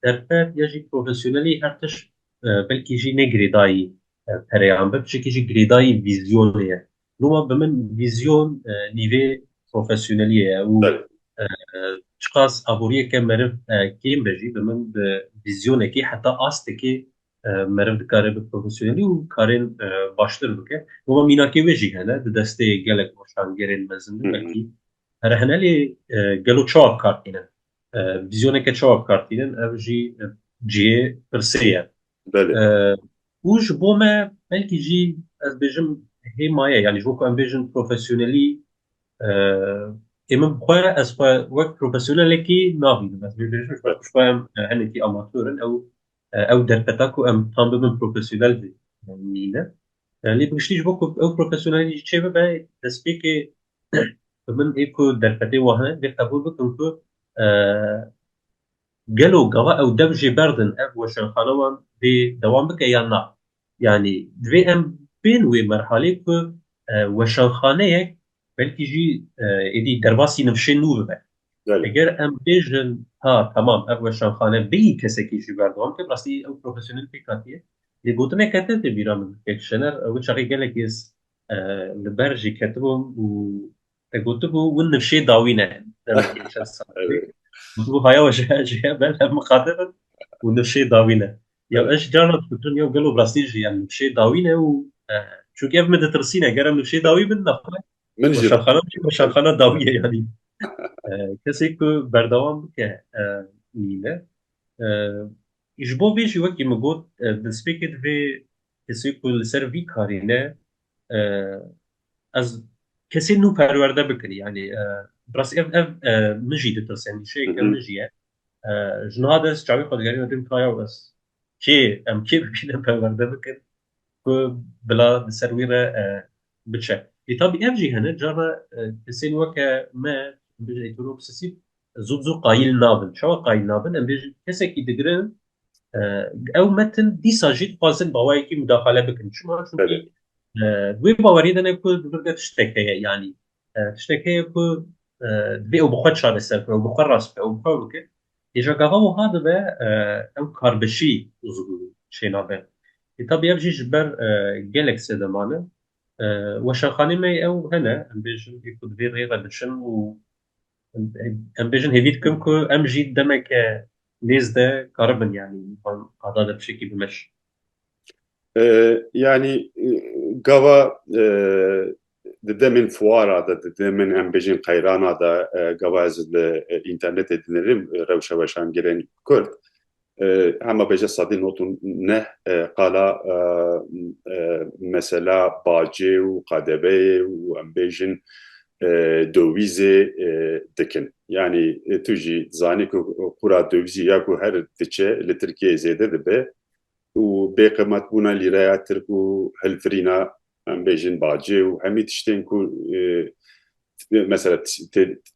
derfet ya jî profesyonelî her tiş belkî jî ne girêdayî pereyan be tişekî jî girêdayî vîzyonê ye. Loma bi min vîzyon nîvê profesyoneliyê ye û çiqas aboriyeke meriv kêm be jî bi min bi vîzyonekî heta astekê meriv dikare bi profesyonelî û karên baştir bike. Loma mînakê wê jî hene di destê gelek weşangerên mezin de belkî Rehinelê gelo çawa bikartînin? Vîzyoneke çawa bikartînin? Ev jî cihê pirsê ye. Û ji bo me belkî jî ez bêjim hê maye yanî ji bo ku em bêjin profesyonelî ê min xwe ez xwe wek profesyonelekî nabînim ez bê bêjim ji xwe em hinekî amatör in ew ew derfeta ku em tam bibin profesyonel jî nîne. Lê bi giştî ji bo ku ew profesyonelî jî çêbibe destpêkê Bi min ê ku derfetê wan hene dê qebûl bikim ku gelo gava ew dev jê berdin ev weşanxana wan dê dewam bike yan na. Yanî divê em bên wê merhalê ku weşanxaneyek belkî jî êdî derbasî nivşên nû bibe. Eger em bêjin ha temam ev weşanxane bêyî kesekî ji ber dewam bike bi rastî ew profesyonel pêk hatiye. Lê gotineke te tê bîra min. Kek Şener ew çaxê gelekî li ber jî ketibûm û te gotibû win nifşê dawî ne gotibû haya we ji hev ben hev miqate bin û nifşê dawî ne ya ez ji carna difikirim ya gelo bi rastî jî em nifşê dawî ne û çunke ev min ditirsîne ger em nifşê dawî bin nexwe min jî şerxana jî şerxana dawî ye yanî kesê ku berdewam bike nîne ji bo vê jî wekî min got di spêkê divê Kesê ku li ser vî karî ne ez kesê nû perwerde bikin yanî rastî ev ev min jî ditirsin şêke min jî ye ji niha de ez çavê xwe digerîme din kaya û ez kê em kê bikîne perwerde bikin ku bila li ser wî re biçe. Ê tabî ev jî hene carna kesên weke me em bêjin heteroksesîv zû bi zû qayîl nabin. Çawa qayîl nabin? Em bêjin kesekî digirin ew metin dîsa jî dixwazin bawayekî mudaxale bikin. Çima? Çunkî wê baweriyê de ne ku di vir de tiştek heye yanî tiştek heye ku divê ew bi xwe çareser bike, ew bi xwe rast bike, ew bi xwe bike. Hêja gava wiha dibe ew karbişî û çênabe. Lê tabî ev jî ji ber gelek sedeman e. Weşanxanê me yê ew hene, em bêjin ê ku di vê rêyê re biçin û em bêjin hêvî dikim ku em jî demeke nêzde karibin yanî van qada de bi şekî bimeşin. Yanî gava di demên fuara de, di demên em bêjin qeyrana de gava ez li înternetê dinêrim rewşa weşangirên Kurd hema bêje sedî not û neh qala mesela bacê û qadebeyê û em bêjin dowîzê dikin. Yanî tu jî zanî ku qûra dowîzî ya ku her diçe li Tirkiyeyê zêde dibe û bêqimetbûna lîreya tirk û hilfirîna em bêjin bacê û hemî tiştên ku mesela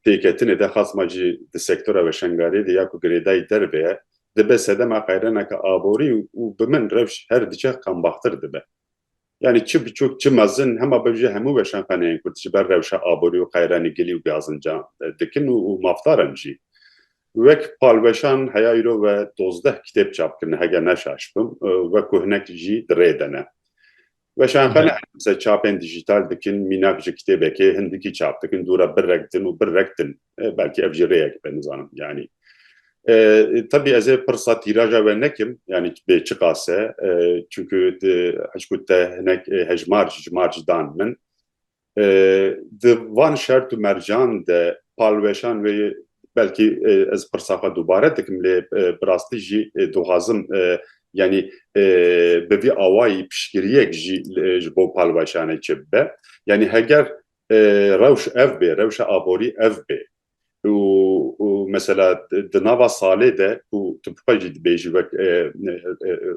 têketinê de xasma jî di sektora weşangariyê de ya ku girêdayî derve ye dibe sedema qeyreneke aborî û bi min rewş her diçe qembaxtir dibe. Yanî çi biçûk çi mezin hema bev jî hemû weşan xaneyên Kurd ji ber rewşa aborî û qeyranî gilî û gazinca dikin û mafdar in jî. Wek palweşan heya îro ve dozdeh kitêb çap kirine heger neşaş bim we ku hinek jî di rê de ne. Weşan xane her demse çapên dijîtal dikin mînak ji kitêbekê hin dikî çap dikin dûra birrek din û birrek din. Belkî ev jî rêyek be nizanim yanî. Tebî ez ê pirsa tîraja we nekim yanî bê çi qas e çunku hişku te hinek hejmar ji mar jî dan min. Di van şert û mercan de palweşan wê belkî ez pirsa xwe dubare dikim lê bi rastî jî dixwazim yanî bi vî awayî piştgiriyek jî ji bo palweşanê çi bibe. Yanî heger Rewş ev bê, rewşa aborî ev bê û û mesela di nava salê de ku tu bi xwe jî dibêjî wek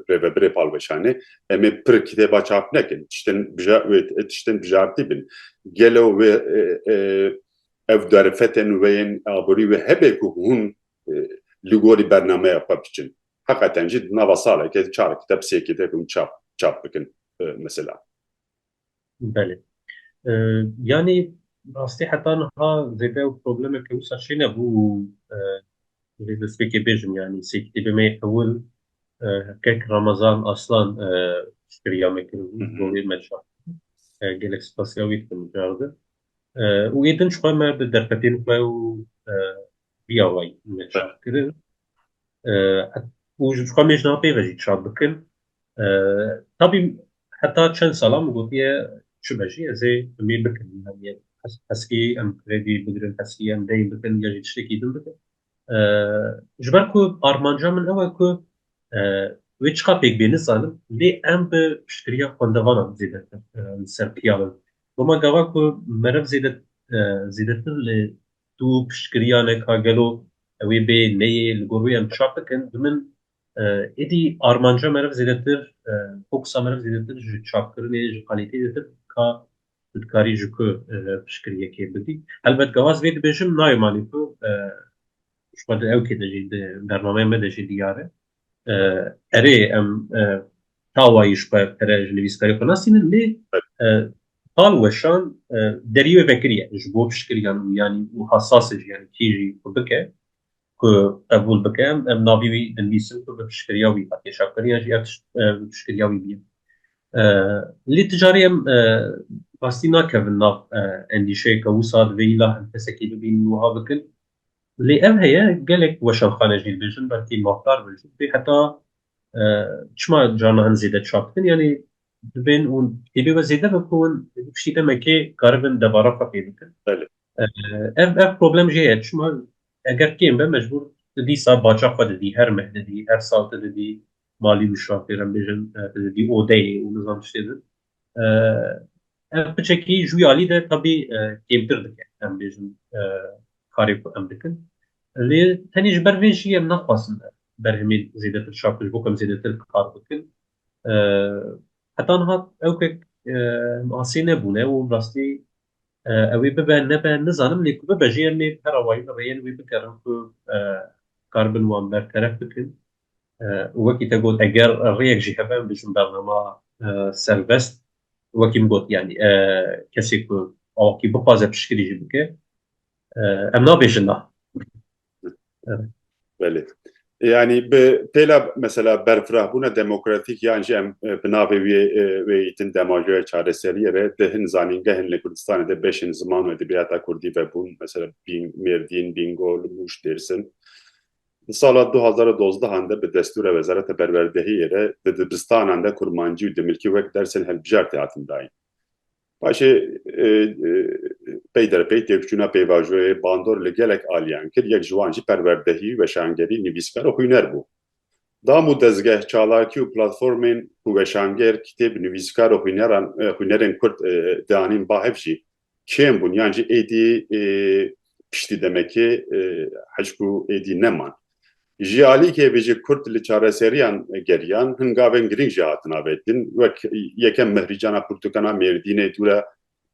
Rêvebirê Palweşanê em ê pir kitêba çap nekin, tiştên tiştên bijartî bin. Gelo wê ev derfetên wê yên aborî wê hebe ku hûn li gorî bernameya xwe biçin. Heqeten jî di nava saleke çar kiteb sê kiteb hûn çap çap bikin mesela. Belê. Yanî rastî heta niha zêde ew problemeke wisa çênebû û divê destpêkê bêjim yanî sê kitêbê me yê ewil kek Ramazan Aslan piştgiriya me kiribû ji bo wê me çap bike. Gelek spasiya wî dikim cardi. Û ê din ji xwe me bi derfetên xwe û Biya way me çap kirin. Û ji xwe mêj napê ve jî çap bikin. Tabî heta çend sala min gotiye çi be jî ez ê bi mê bikin. Yani heskê em kredî bigirin, heskê em deyn bikin ya jî tiştekî din bikin. Ji ber ku armanca min ew e ku wê çiqa pêk bê nizanim lê em bi piştgiriya xwendevanan zêde li ser piya bin. Doma gava ku meriv zêde zêdetir li Tu piştgiriya ne ka gelo ew ê bê neyê li gor wê em çap bikin bi min êdî armanca meriv zêdetir fokusa meriv zêdetir ji çapkirinê ji qalîteyê zêdetir ka tu dikarî ji ku piştgiriyekê bigî. Helbet gava ez vê dibêjim nayom anî ku ji xwe di ewkê de jî di bernameya me de jî diyar e. Erê em tawayî ji xwe pere ji nivîskarê xwe nasînin lê tal weşan derî wê vekiriye ji bo piştgiriyan û yanî û hesasê ji yanî kî jî xwe bike ku qebûl bike em em navî wî dinivîsin ku bi piştgiriya wî hatiye şakirîya jî ev tişt bi piştgiriya wî bîye lê ti carî em rastî nakevin nav endîşeyê ke wisa divê îla em kesekî bibînin wiha bikin Lê ev heye gelek weşanxane jî dibêjin belkî mafdar bin jî dibê heta çima carna hin zêde çap dikin yanî dibên û hêbê we zêde bin ku hûn di piştî demekê karibin debara xwe fêr bikin. Ev ev problem jê ye çima eger kêm be mecbûr tu dîsa baca xwe didî her meh didî her sal tu didî malî wişan fêr em bêjin tu didî odeyê û nizam tiştê din. Ev piçekî ji wî alî de tevî kêmtir dike em bêjin karê ku em dikin. Lê tenê ji ber vê jî em naxwazin berhemê zêdetir çakin ji bo ku em zêdetir kar bikin. Heta niha ewkek em asê nebûne û bi rastî ew ê bibe nebe nizanim lê ku bibe jî em ê bi her awayî rêyên wê bikerin ku karibin wan berteref bikin. وەکی te got eger rêyek jî hebe em dijîn bernama serbest wekî min got yanî kesê ku awakî bixwaze piştgirî jî bike em nabêjin na Belê. Yani bi pêla mesela berfirahbûna demokratîk yan jî em bi navê wê wê îtin demajoya çareseriyê re di hin zanîngehên li Kurdistanê de beşên ziman û edebiyata Kurdî vebûn mesela Bîng, Mêrdîn, Bîngol, Mûş, Dêrsim. Di sala du hezar û dozdehan de bi destûra Wezareta Perwerdehiyê re di dibistanan de kurmancî û dimilkî wek dersên hilbijartî hatin dayîn. Paşê pey der pey têkçûna pêvajoyê bandor li gelek aliyan kir, yek ji wan jî perwerdehî, weşangerî, nivîskar û xwîner bû. Dam û dezgeh, çalakî û platformên ku weşanger, kitêb, nivîskar û xwîneran, xwînerên kurd dianîn ba hev jî kêm bûn yan jî êdî piştî demekê hicq û êdî neman. Ji alî kê vê jî Kurd li çareseriyan geriyan, hin gavên girîng jî hatin avêtin. Wek yekem Mehrîcana Pirtûkan a Mêrdînê tûra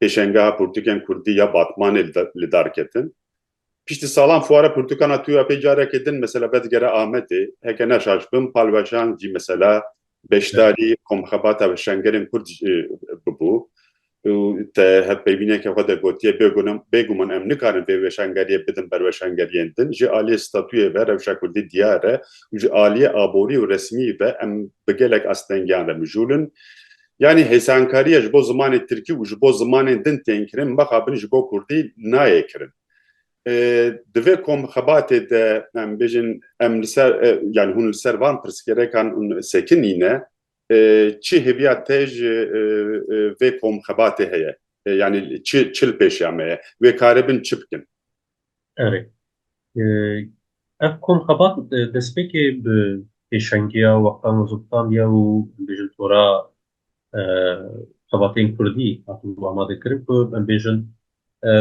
pêşengeha pirtûkên Kurdî ya Batmanê li dar ketin. Piştî salan fuare pirtûkan a tuya pê carekê din mesela vedigere Amedê. Heke neşaş bim palweşan jî mesela beşdarî komxebata bi şengerên kurd bibû û te hevpeyvîneke xwe de gotiye bêguman em nikarin vê weşangeriyê bidin ber weşangeriyên din. Ji aliyê statuyê ve rewşa kurdî diyar e û ji aliyê aborî û resmî ve em bi gelek astengiyan re mijûl in. Yanî hêsankariya ji bo zimanê tirkî û ji bo zimanên din tên kirin mixabin ji bo kurdî nayê kirin. Divê ku em xebatê de em bêjin em li ser yanî hûn li ser van pirsgêrekan sekinîne çi hêviya te ji vê kom xebatê heye? Yanî çi çi li pêşiya me ye? Wê karê bin çi bikin? Erê. Ev kom xebat destpêkê bi pêşengiya wextan û ziltan diya û em bêjin tora xebatên Kurdî hatibû amadekirin ku em bêjin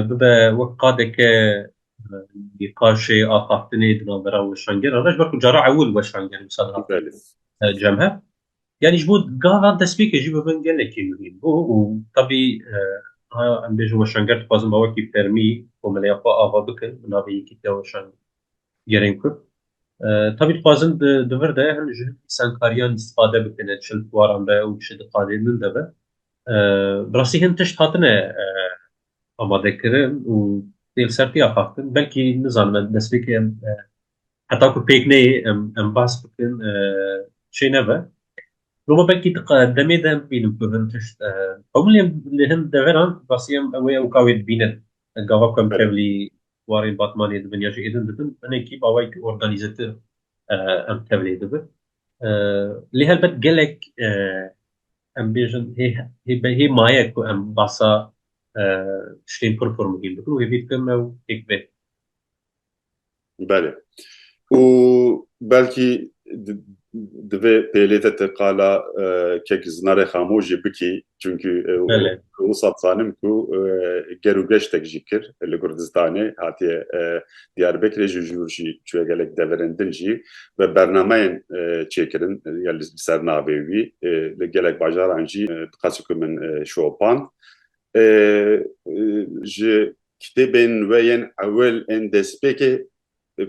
bibe wek qadeke nîqaşê axaftinê di navbera weşangeran re ji ber ku cara ewil weşanger wisa dihat cem hev. Yani ji bo gava destpêkê jî bibin gelekî muhîm bû û tevî em bêjin weşanger dixwazin bawekî fermî komeleya xwe ava bikin bi navê Yekîtiya Weşangerên Kurd. Tevî dixwazin di vir de him ji îsankariyan îstifade bikin di çend waran de û çi diqadênin de be. Bi rastî hin tişt hatine amadekirin û tê li ser tê axaftin belkî nizanim em destpêkê em Heta ku pêk neyê em em bahs bikin çê nebe. Loma belkî demê de bînim ku hin tişt hemû lê li hin deveran basî em wê ew ka wê dibînin. Gava ku em tevlî warê Batmanê dibin ya jî êdin dibin hinekî bawayekî organîzetir em tevlê dibin. Lê helbet gelek em bêjin hê hê be hê maye ku em bahsa tiştên pir pir muhîm bikin û hêvî dikim ew pêk bê. Belê. Û belkî divê pêlê te te qala kek zinarê xamo jî bikî çunku wisa dizanim ku ger û geştek jî kir li Kurdistanê hatiye Diyarbekirê jî jûr jî çûye gelek deverên din jî ve bernameyên çêkirin ya li ser navê wî li gelek bajaran jî qasî ku min şopand ji Kitêbên we yên ewil ên destpêkê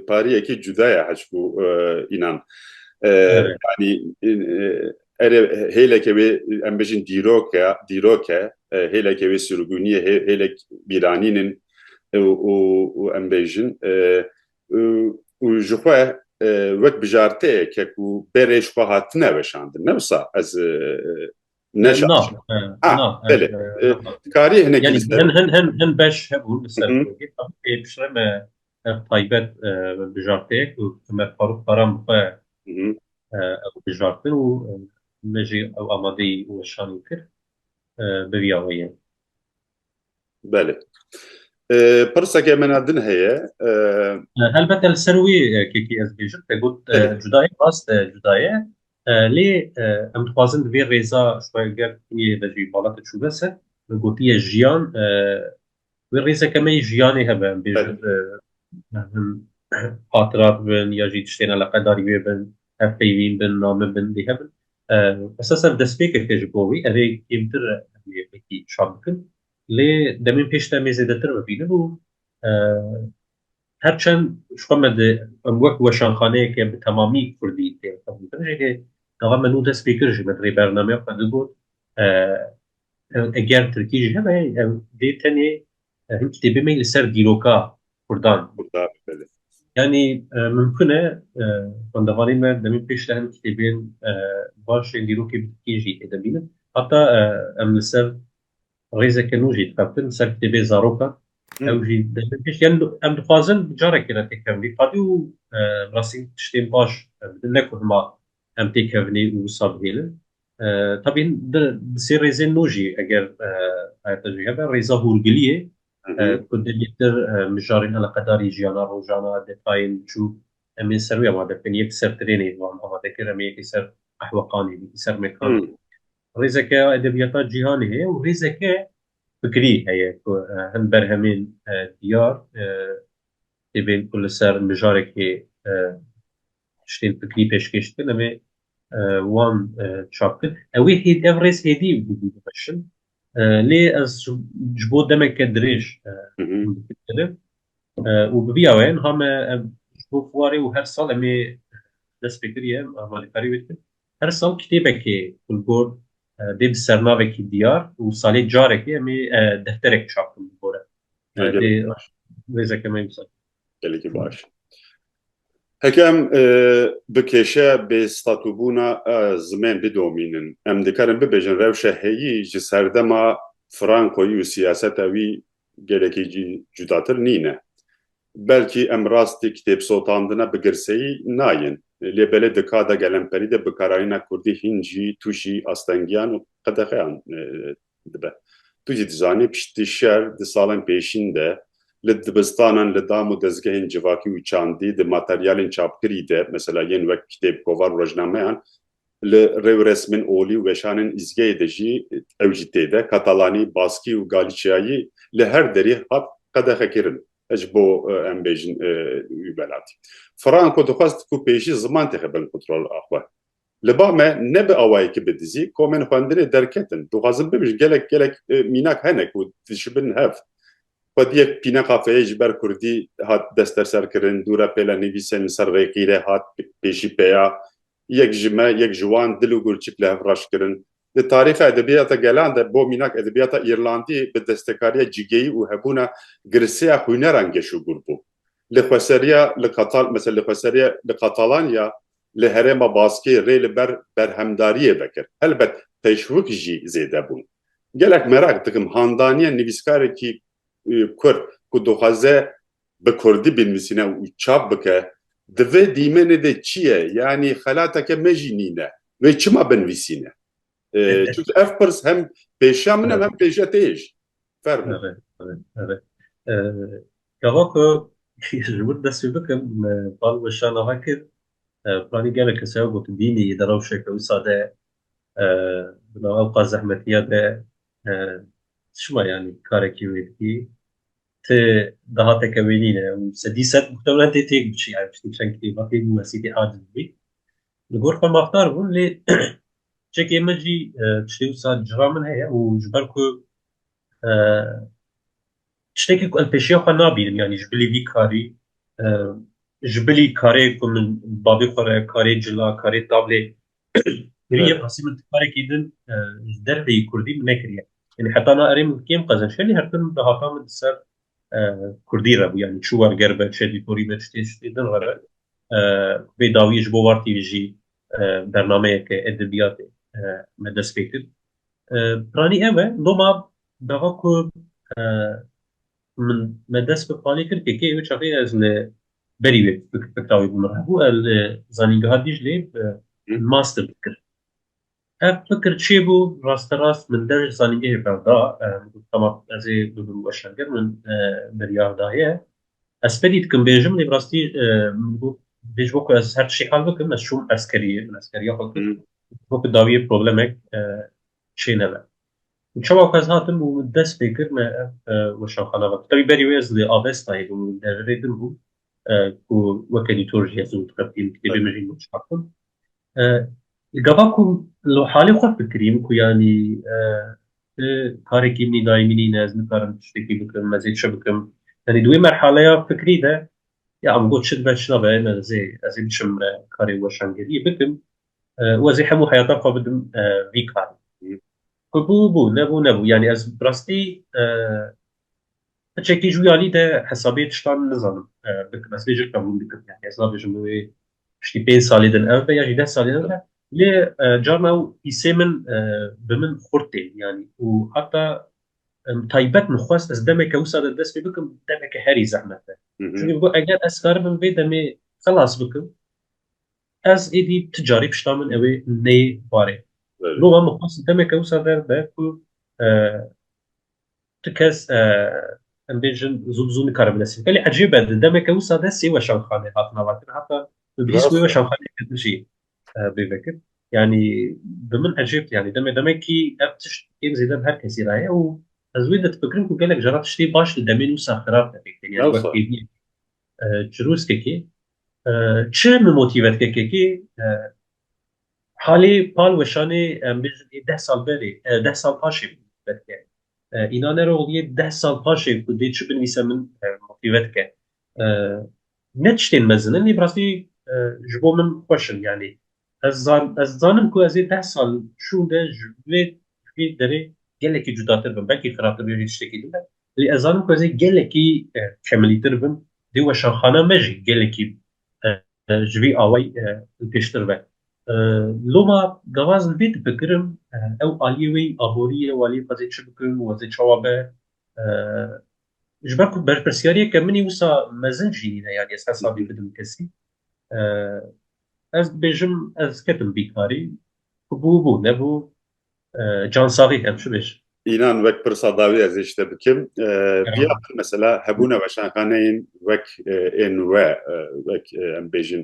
pariyekî cuda ye hişku înan. Yanî erê hêleke wê em bijin dîrok e, dîrok e, hêleke wê sirgûnî ye, hêlek bîranîn in û em bêjin û ji xwe wek bijarteyeke ku berê ji xwe hatine weşandin. Ne wisa ez Ne şaş. Na, he, Ha, na, he, belê. he, E, na. Dikarî hinekî Yani li ser. hin hin hin hin beş hebûn li ser Hı hı. kurgê. Pê pişre me ev taybet e, bijarteyek û Ömer Faruk Baran bi xwe Hı hı. e, ew bijartin û e, me jî ew amadeyî weşanî kir e, bi vîya wê ye. Belê. Pirseke me na din heye. Helbet el ser wî kekî ez bêjim te got cudayê rast e cudayê lê em dixwazin divê rêza şweger yê de jî bala te çûbe ser gotiye jiyan wê rêzeke me yê jiyanê hebe em bêjin hatira bibin ya jî tiştên eleqedarî wê bin Hevpeyvîn bin, name bin dê hebin. Esasen destpêkeke ji bo wî ev ê kêmtir em ê wekî şand bikin. Lê demên pêş de em ê zêdetir bibînin û her çend ji xwe me di em wek weşanxaneyeke bi temamî kurdî tê qebûl kirin jî lê gava me nû dest pê kir jî me di rê bernameya xwe de got eger tirkî jî hebe ev dê tenê Ev kitêbê me li ser dîroka Kurdan. Kurdan, belê. Yanî mimkun e xwendevanê me demên pêş de hin kitêbên baş ên dîrokê bi tirkî jî tê de bînin. Heta em li ser rêzeke nû jî dixebtin li ser kitêbê zarokan. Ew jî demên pêş yan em dixwazin carekê re têkevin. Qadî û rastî tiştên baş bidin ne ku hima Em têkevnê û wisa bihêlin. Tabîn di sê rêzên nû jî eger xayata jî hebe rêza hûrgiliyê ku dilîtir mijarên eleqedarî jiyana rojana detayên biçûk em ê ser wî amade bikin. Yek ser tirênê wan amade kir, em ê yekê ser qehweqanê, yekê ser mekanê. Rêzeke ya edebiyata cîhanê heye û rêzeke fikrî heye ku hin berhemên diyar tê bên ku li ser mijarekê tiştên fikrî pêşkêş dikin em ê wan çap bikin. Ew ê hêd ev rêz hêdî û didî bimeşin. Lê ez ji bo demeke dirêj dikirim û bi vîya weyên ha me ev ji bo fuarê û her sal em ê dest pê kiriye em amadekariye wê dikin. Her sal kitêbekê li gor dê bi sernavekî diyar û salê carekê em ê defterek çap bikin li gor e. Dê rêzeke me wisa. gelekî baş e. Heke em bi kêşe bêstatûbûna zimên bidomînin, em dikarin bibêjin rewşa heyî ji serdema Frankoyî û siyaseta wî gelekî jî cudatir nîne. Belkî em rastî kitêbsotandina bi girseyî nayên. Lê belê di ka de gelemperî de bikarayîna kurdî hîn jî tûşî astengiyan û qedexeyan dibe. Tu jî dizanî piştî şer di salên pêşîn de li dibistanan li dam û dezgehên civakî û çandî di materyalên çapkirî de mesela yên wek kitêb, kovar û rojnameyan li rêwresmên olî û weşanên îzgeyê de jî ew jî tê de katalanî, baskî û galîçiyayî li her derî hat qedexekirin ji bo em bêjin wî welatî. Franco dixwest ku pêşî ziman têxe bin kontrola xwe. Li ba me ne bi awayekî bi dizî komên xwendinê derketin. Dixwazim bibijn gelek gelek mînak hene ku dişibin hev. Xwediyek pîne qafeyê ji ber kurdî hat desteserkirin, dû re pêle nivîsên li ser rêqî re hat pêşî peya. Yek ji me, yek ji wan dil û gurçik li hev reş kirin. Di tarîxa edebiyata gelan de bo mînak edebiyata Îrlandî bi destekariya cigeyî û hebûna girseya xwîneran geş û gûr bû. Li xweseriya li Katal mesela li xweseriya li Katalanya Li herêma Baskê rê li ber berhemdariyê vekir. Helbet teşwik jî zêde bûn. Gelek mereq dikim handaniya nivîskarekî Kurd ku dixwaze bi Kurdî binivîsîne û çap bike di vê dîmenê de çi ye? Yanî xelateke me jî nîne. Wê çima binivîsîne? Çunke ev pirs hem pêşiya min e hem pêşiya te yê jî. Fermo. Eve, eve, eve. Gava ku ji wir dest pê bikim, bal we şa niha kir, planî gelek kes heye ku tu bînî di rewşeke wisa de, di nav ew qas zehmetiya de çima yanî karekî wê dikî, ti dahateke wê nîne û sedî sed muhtemelen tê têk biçî, çend kitêba tê bû wesîtê erdibû bî. Li gor xwe mafdar bûn lê Çekê min jî tiştê wisa cira min heye û ji ber ku tiştekî ku em pêşiya xwe nabînim yanî ji bilî vî karî ji bilî karê ku min bavê xwe re karê cila karê tablê kirî yê qasî min karekî din ji derveyî kurdî min nekiriye yanî heta na erê min kêm qezenç herî her tim di hata min di ser kurdî re bû yanî çû werger be çedî korî be tiştê tiştê din re be bê dawiyê ji bo wartî jî bernameyeke edebiyatê me dest pê kir. Piranî ew e doma dava ku min me dest bi qalê kir kekê ew çaxê ez li berî wê fikra wê bû min hebû ez li zanîngeha Dîclê master dikir. Ev fikir çê bû? Rasterast min der ji zanîngehê ber da. Min got tema ez ê bi vir û weşan ger min biryar daye. Ez spedî dikim bêjim lê bi rastî min got dê ji bo ku ez her tiştê hal bikim ez çûm eskeriyê min eskeriya xwe kir ji bo ku dawiyê problemek çê nebe. Û çawa ku ez hatim û min dest pê kir me ev weşanxana ve tevî berî wê ez li Avestayê bûm û deverê din bûm ku weke dîtor jî ez û dixebitînim kitêbê min jî nûçabûn. Gava ku li halê xwe fikirîm ku yanî ti karekî min î daîmî nîne, ez nikarim tiştekî bikim, ez ê çi bikim. Yanî di wê merhaleya fikrî de ya min got çi dibe çi nabe em ez ê ez ê biçim karê weşangeriyê bikim û ez ê hemû heyata xwe bidim vî karê. Ku bû bû, nebû nebû. Yanî ez bi rastî Hiçekî ji wî alî de hesabê tiştan nizanim bi mesajê qebûl dikim. Yani hesabê ji min wê piştî pênc salê din ev be ya jî deh salê din be. Lê carna ew îsê min bi min xurt tê yanî û heta taybet min xwest ez demeke wisa de dest pê bikim demeke herî zehmet be. Çunke got eger ez karibim vê demê xilas bikim ez êdî ti carî pişta min ewê neyê barê. Loma min xwest demeke wisa de be ku Tu kes em bêjin zû zû nikarim nesin. Belê ecîb e di demeke wisa de sê weşanxane hatin avatin heta bi bihîst wê weşanxane ketin jî bê vekir. Yani bi min ecêb yani demê demekî ev tişt êm zêde bi her kesî re ye û ez wê de difikirim ku gelek jara tiştê baş di demên wisa xirab de pêk têne wek kêdî çirûskekê çi min motîvet kekekê Halî Pal Weşanê em bêjin ê deh sal berê, deh sal paşê bû belke. Înan Eroğlu yê deh sal paşê ku dê çi binivîse min motîve dike. Ne tiştên mezin in lê bi rastî ji bo min xweş in. Yanî ez zan ez dizanim ku ez ê deh sal şûnde ji vê ji vê derê gelekî cudatir bim. Belkî xirabtir bê vê tiştekî din be lê ez zanim ku ez ê gelekî kemilîtir bim. Dê weşanxana me jî gelekî Ji vî awayî li pêştir be. Loma gawa ez li vê difikirim ew aliyê wê yî aborî ye û aliyê xwe zê çi bikin û ez ê çawa be. Ji ber ku berpirsyariyeke min î wisa mezin jî nîne yanî ez hesabî bidim kesî. Ez dibêjim ez ketim bîkarî. Ku bû bû nebû Cansaxî hem şu bêj. Înan wek pirsa dawî ez ê ji te bikim. Diya min mesela hebûna weşanxaneyên wek ê nû we wek em bêjin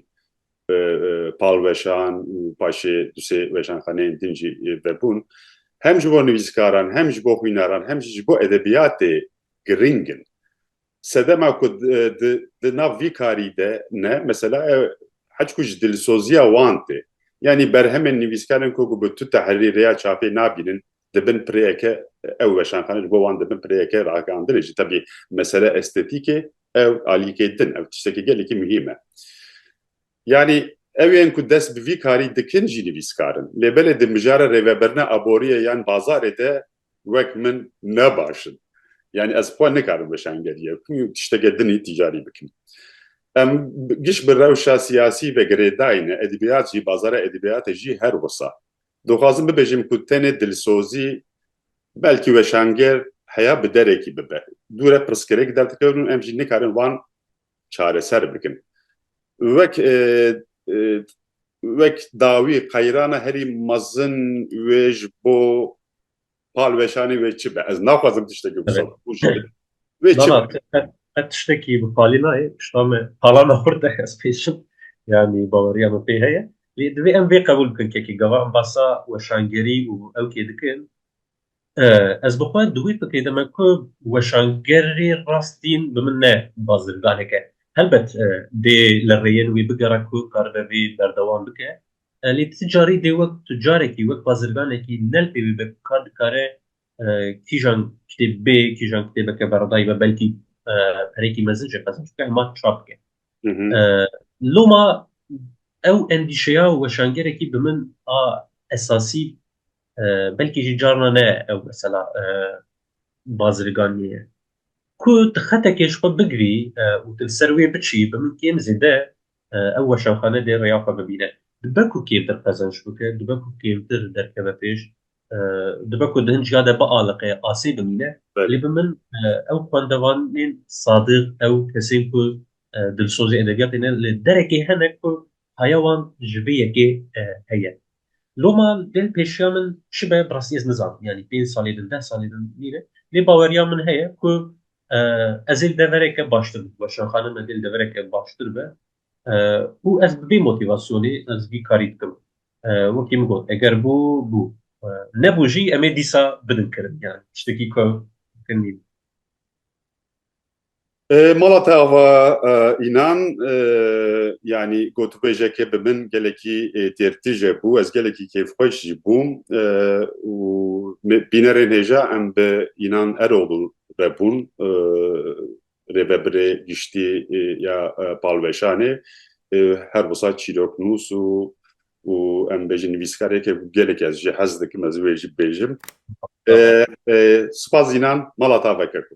palweşan û paşê du sê weşanxaneyên din jî vebûn hem ji bo nivîskaran hem ji bo xwînaran hem jî ji bo edebiyatê giring in. Sedema ku di nav vî karî de ne mesela hed ku ji dilsoziya wan tê. Yanî berhemên nivîskaran ku bi tu tehrîr ya çapê nabînin dibin pirêyeke ew weşanxane ji bo wan dibin pirêyeke ragihandinê jî. Tevî mesele estetîkê ew alîkê din ew tiştekî gelekî muhîm e. Yanî ew ên ku dest bi vî karî dikin jî nivîskar in. Lê belê di mijara rêvebirina aboriyê yan bazarê de Wek min ne baş in. Yanî ez xwe nikarim weşangerîya ku tişteke din ê tîcarî bikim. Em giş bi rewşa siyasî ve girê dayîne, edebiyat jî, bazara edebiyatê jî her wisa. Dixwazim bibêjim ku tenê dilsozî belkî weşanger heya bi derekî bibe. Dûre pirsgirêk derdikevin û em jî nikarin van çareser bikin. Wek wek dawî qeyrana herî mezin wê ji bo palweşanê wê çi be? Ez naxwazim tiştekî wisa bikim. Wê çi be? Qet tiştekî bi palî nayê. Tişta me palana xurt e ez pê diçim. Yanî baweriya min pê heye. Lê divê em vê qebûl bikin kekê gava embasa weşangerî û ewkê dikin Ez bi xwe di wî fikirê de me ku weşangerê rastîn bi min ne bazirganeke. Helbet dê li rêyên wî bigera ku karibe vê berdewam bike. Lê ti carî dê wek tucarekî, wek bazirganekî ne li pê wî be ku ka dikare kîjan kitêb bê, kîjan kitêbeke beredayî be belkî pereyekî mezin jî qezenç bike hema çap bike. Loma ew endîşeya weşangerekî bi min a esasî belkî jî carna ne ew mesela bazirganiyê ku tu xetekê ji xwe bigirî û tu li ser wê biçî bi min kêm zêde ew weşanxane dê rêya xwe bibîne dibe ku kêmtir qezenç bike dibe ku kêmtir derkeve pêş dibe ku di hin ciya de bialiqe asê bimîne lê bi min ew xwendevanên sadiq ew kesên ku dilsozê edebiyatê ne li derekê hene ku haya wan ji vê yekê heye Loma dê pêşiya min çi be bi rastî ez nizanim yanî pênc salê din deh salê din nî ne lê baweriya min heye ku ez ê li devereke baştir bi weşanxanin me dê li devereke baştir be û ez bi vê motîvasyonê ez vî karî dikim wekî min got eger bû bû nebû jî em ê dîsa bidin kirin yanî tiştekî ku kirin nî. Mala te ava înan yanî gotûbêjeke bi min gelekî têrtije bû. Ez gelekî kêfxweş jî bûm û bînerên hêja em bi Înan Eroğlu re bûn rêvebirê giştî ya Palweşanê her wisa çîroknûs û em bêjin nivîskareke ku gelekî ez jî hez dikim ez wê jî bibêjim. Sipas înan mala ta veke ku.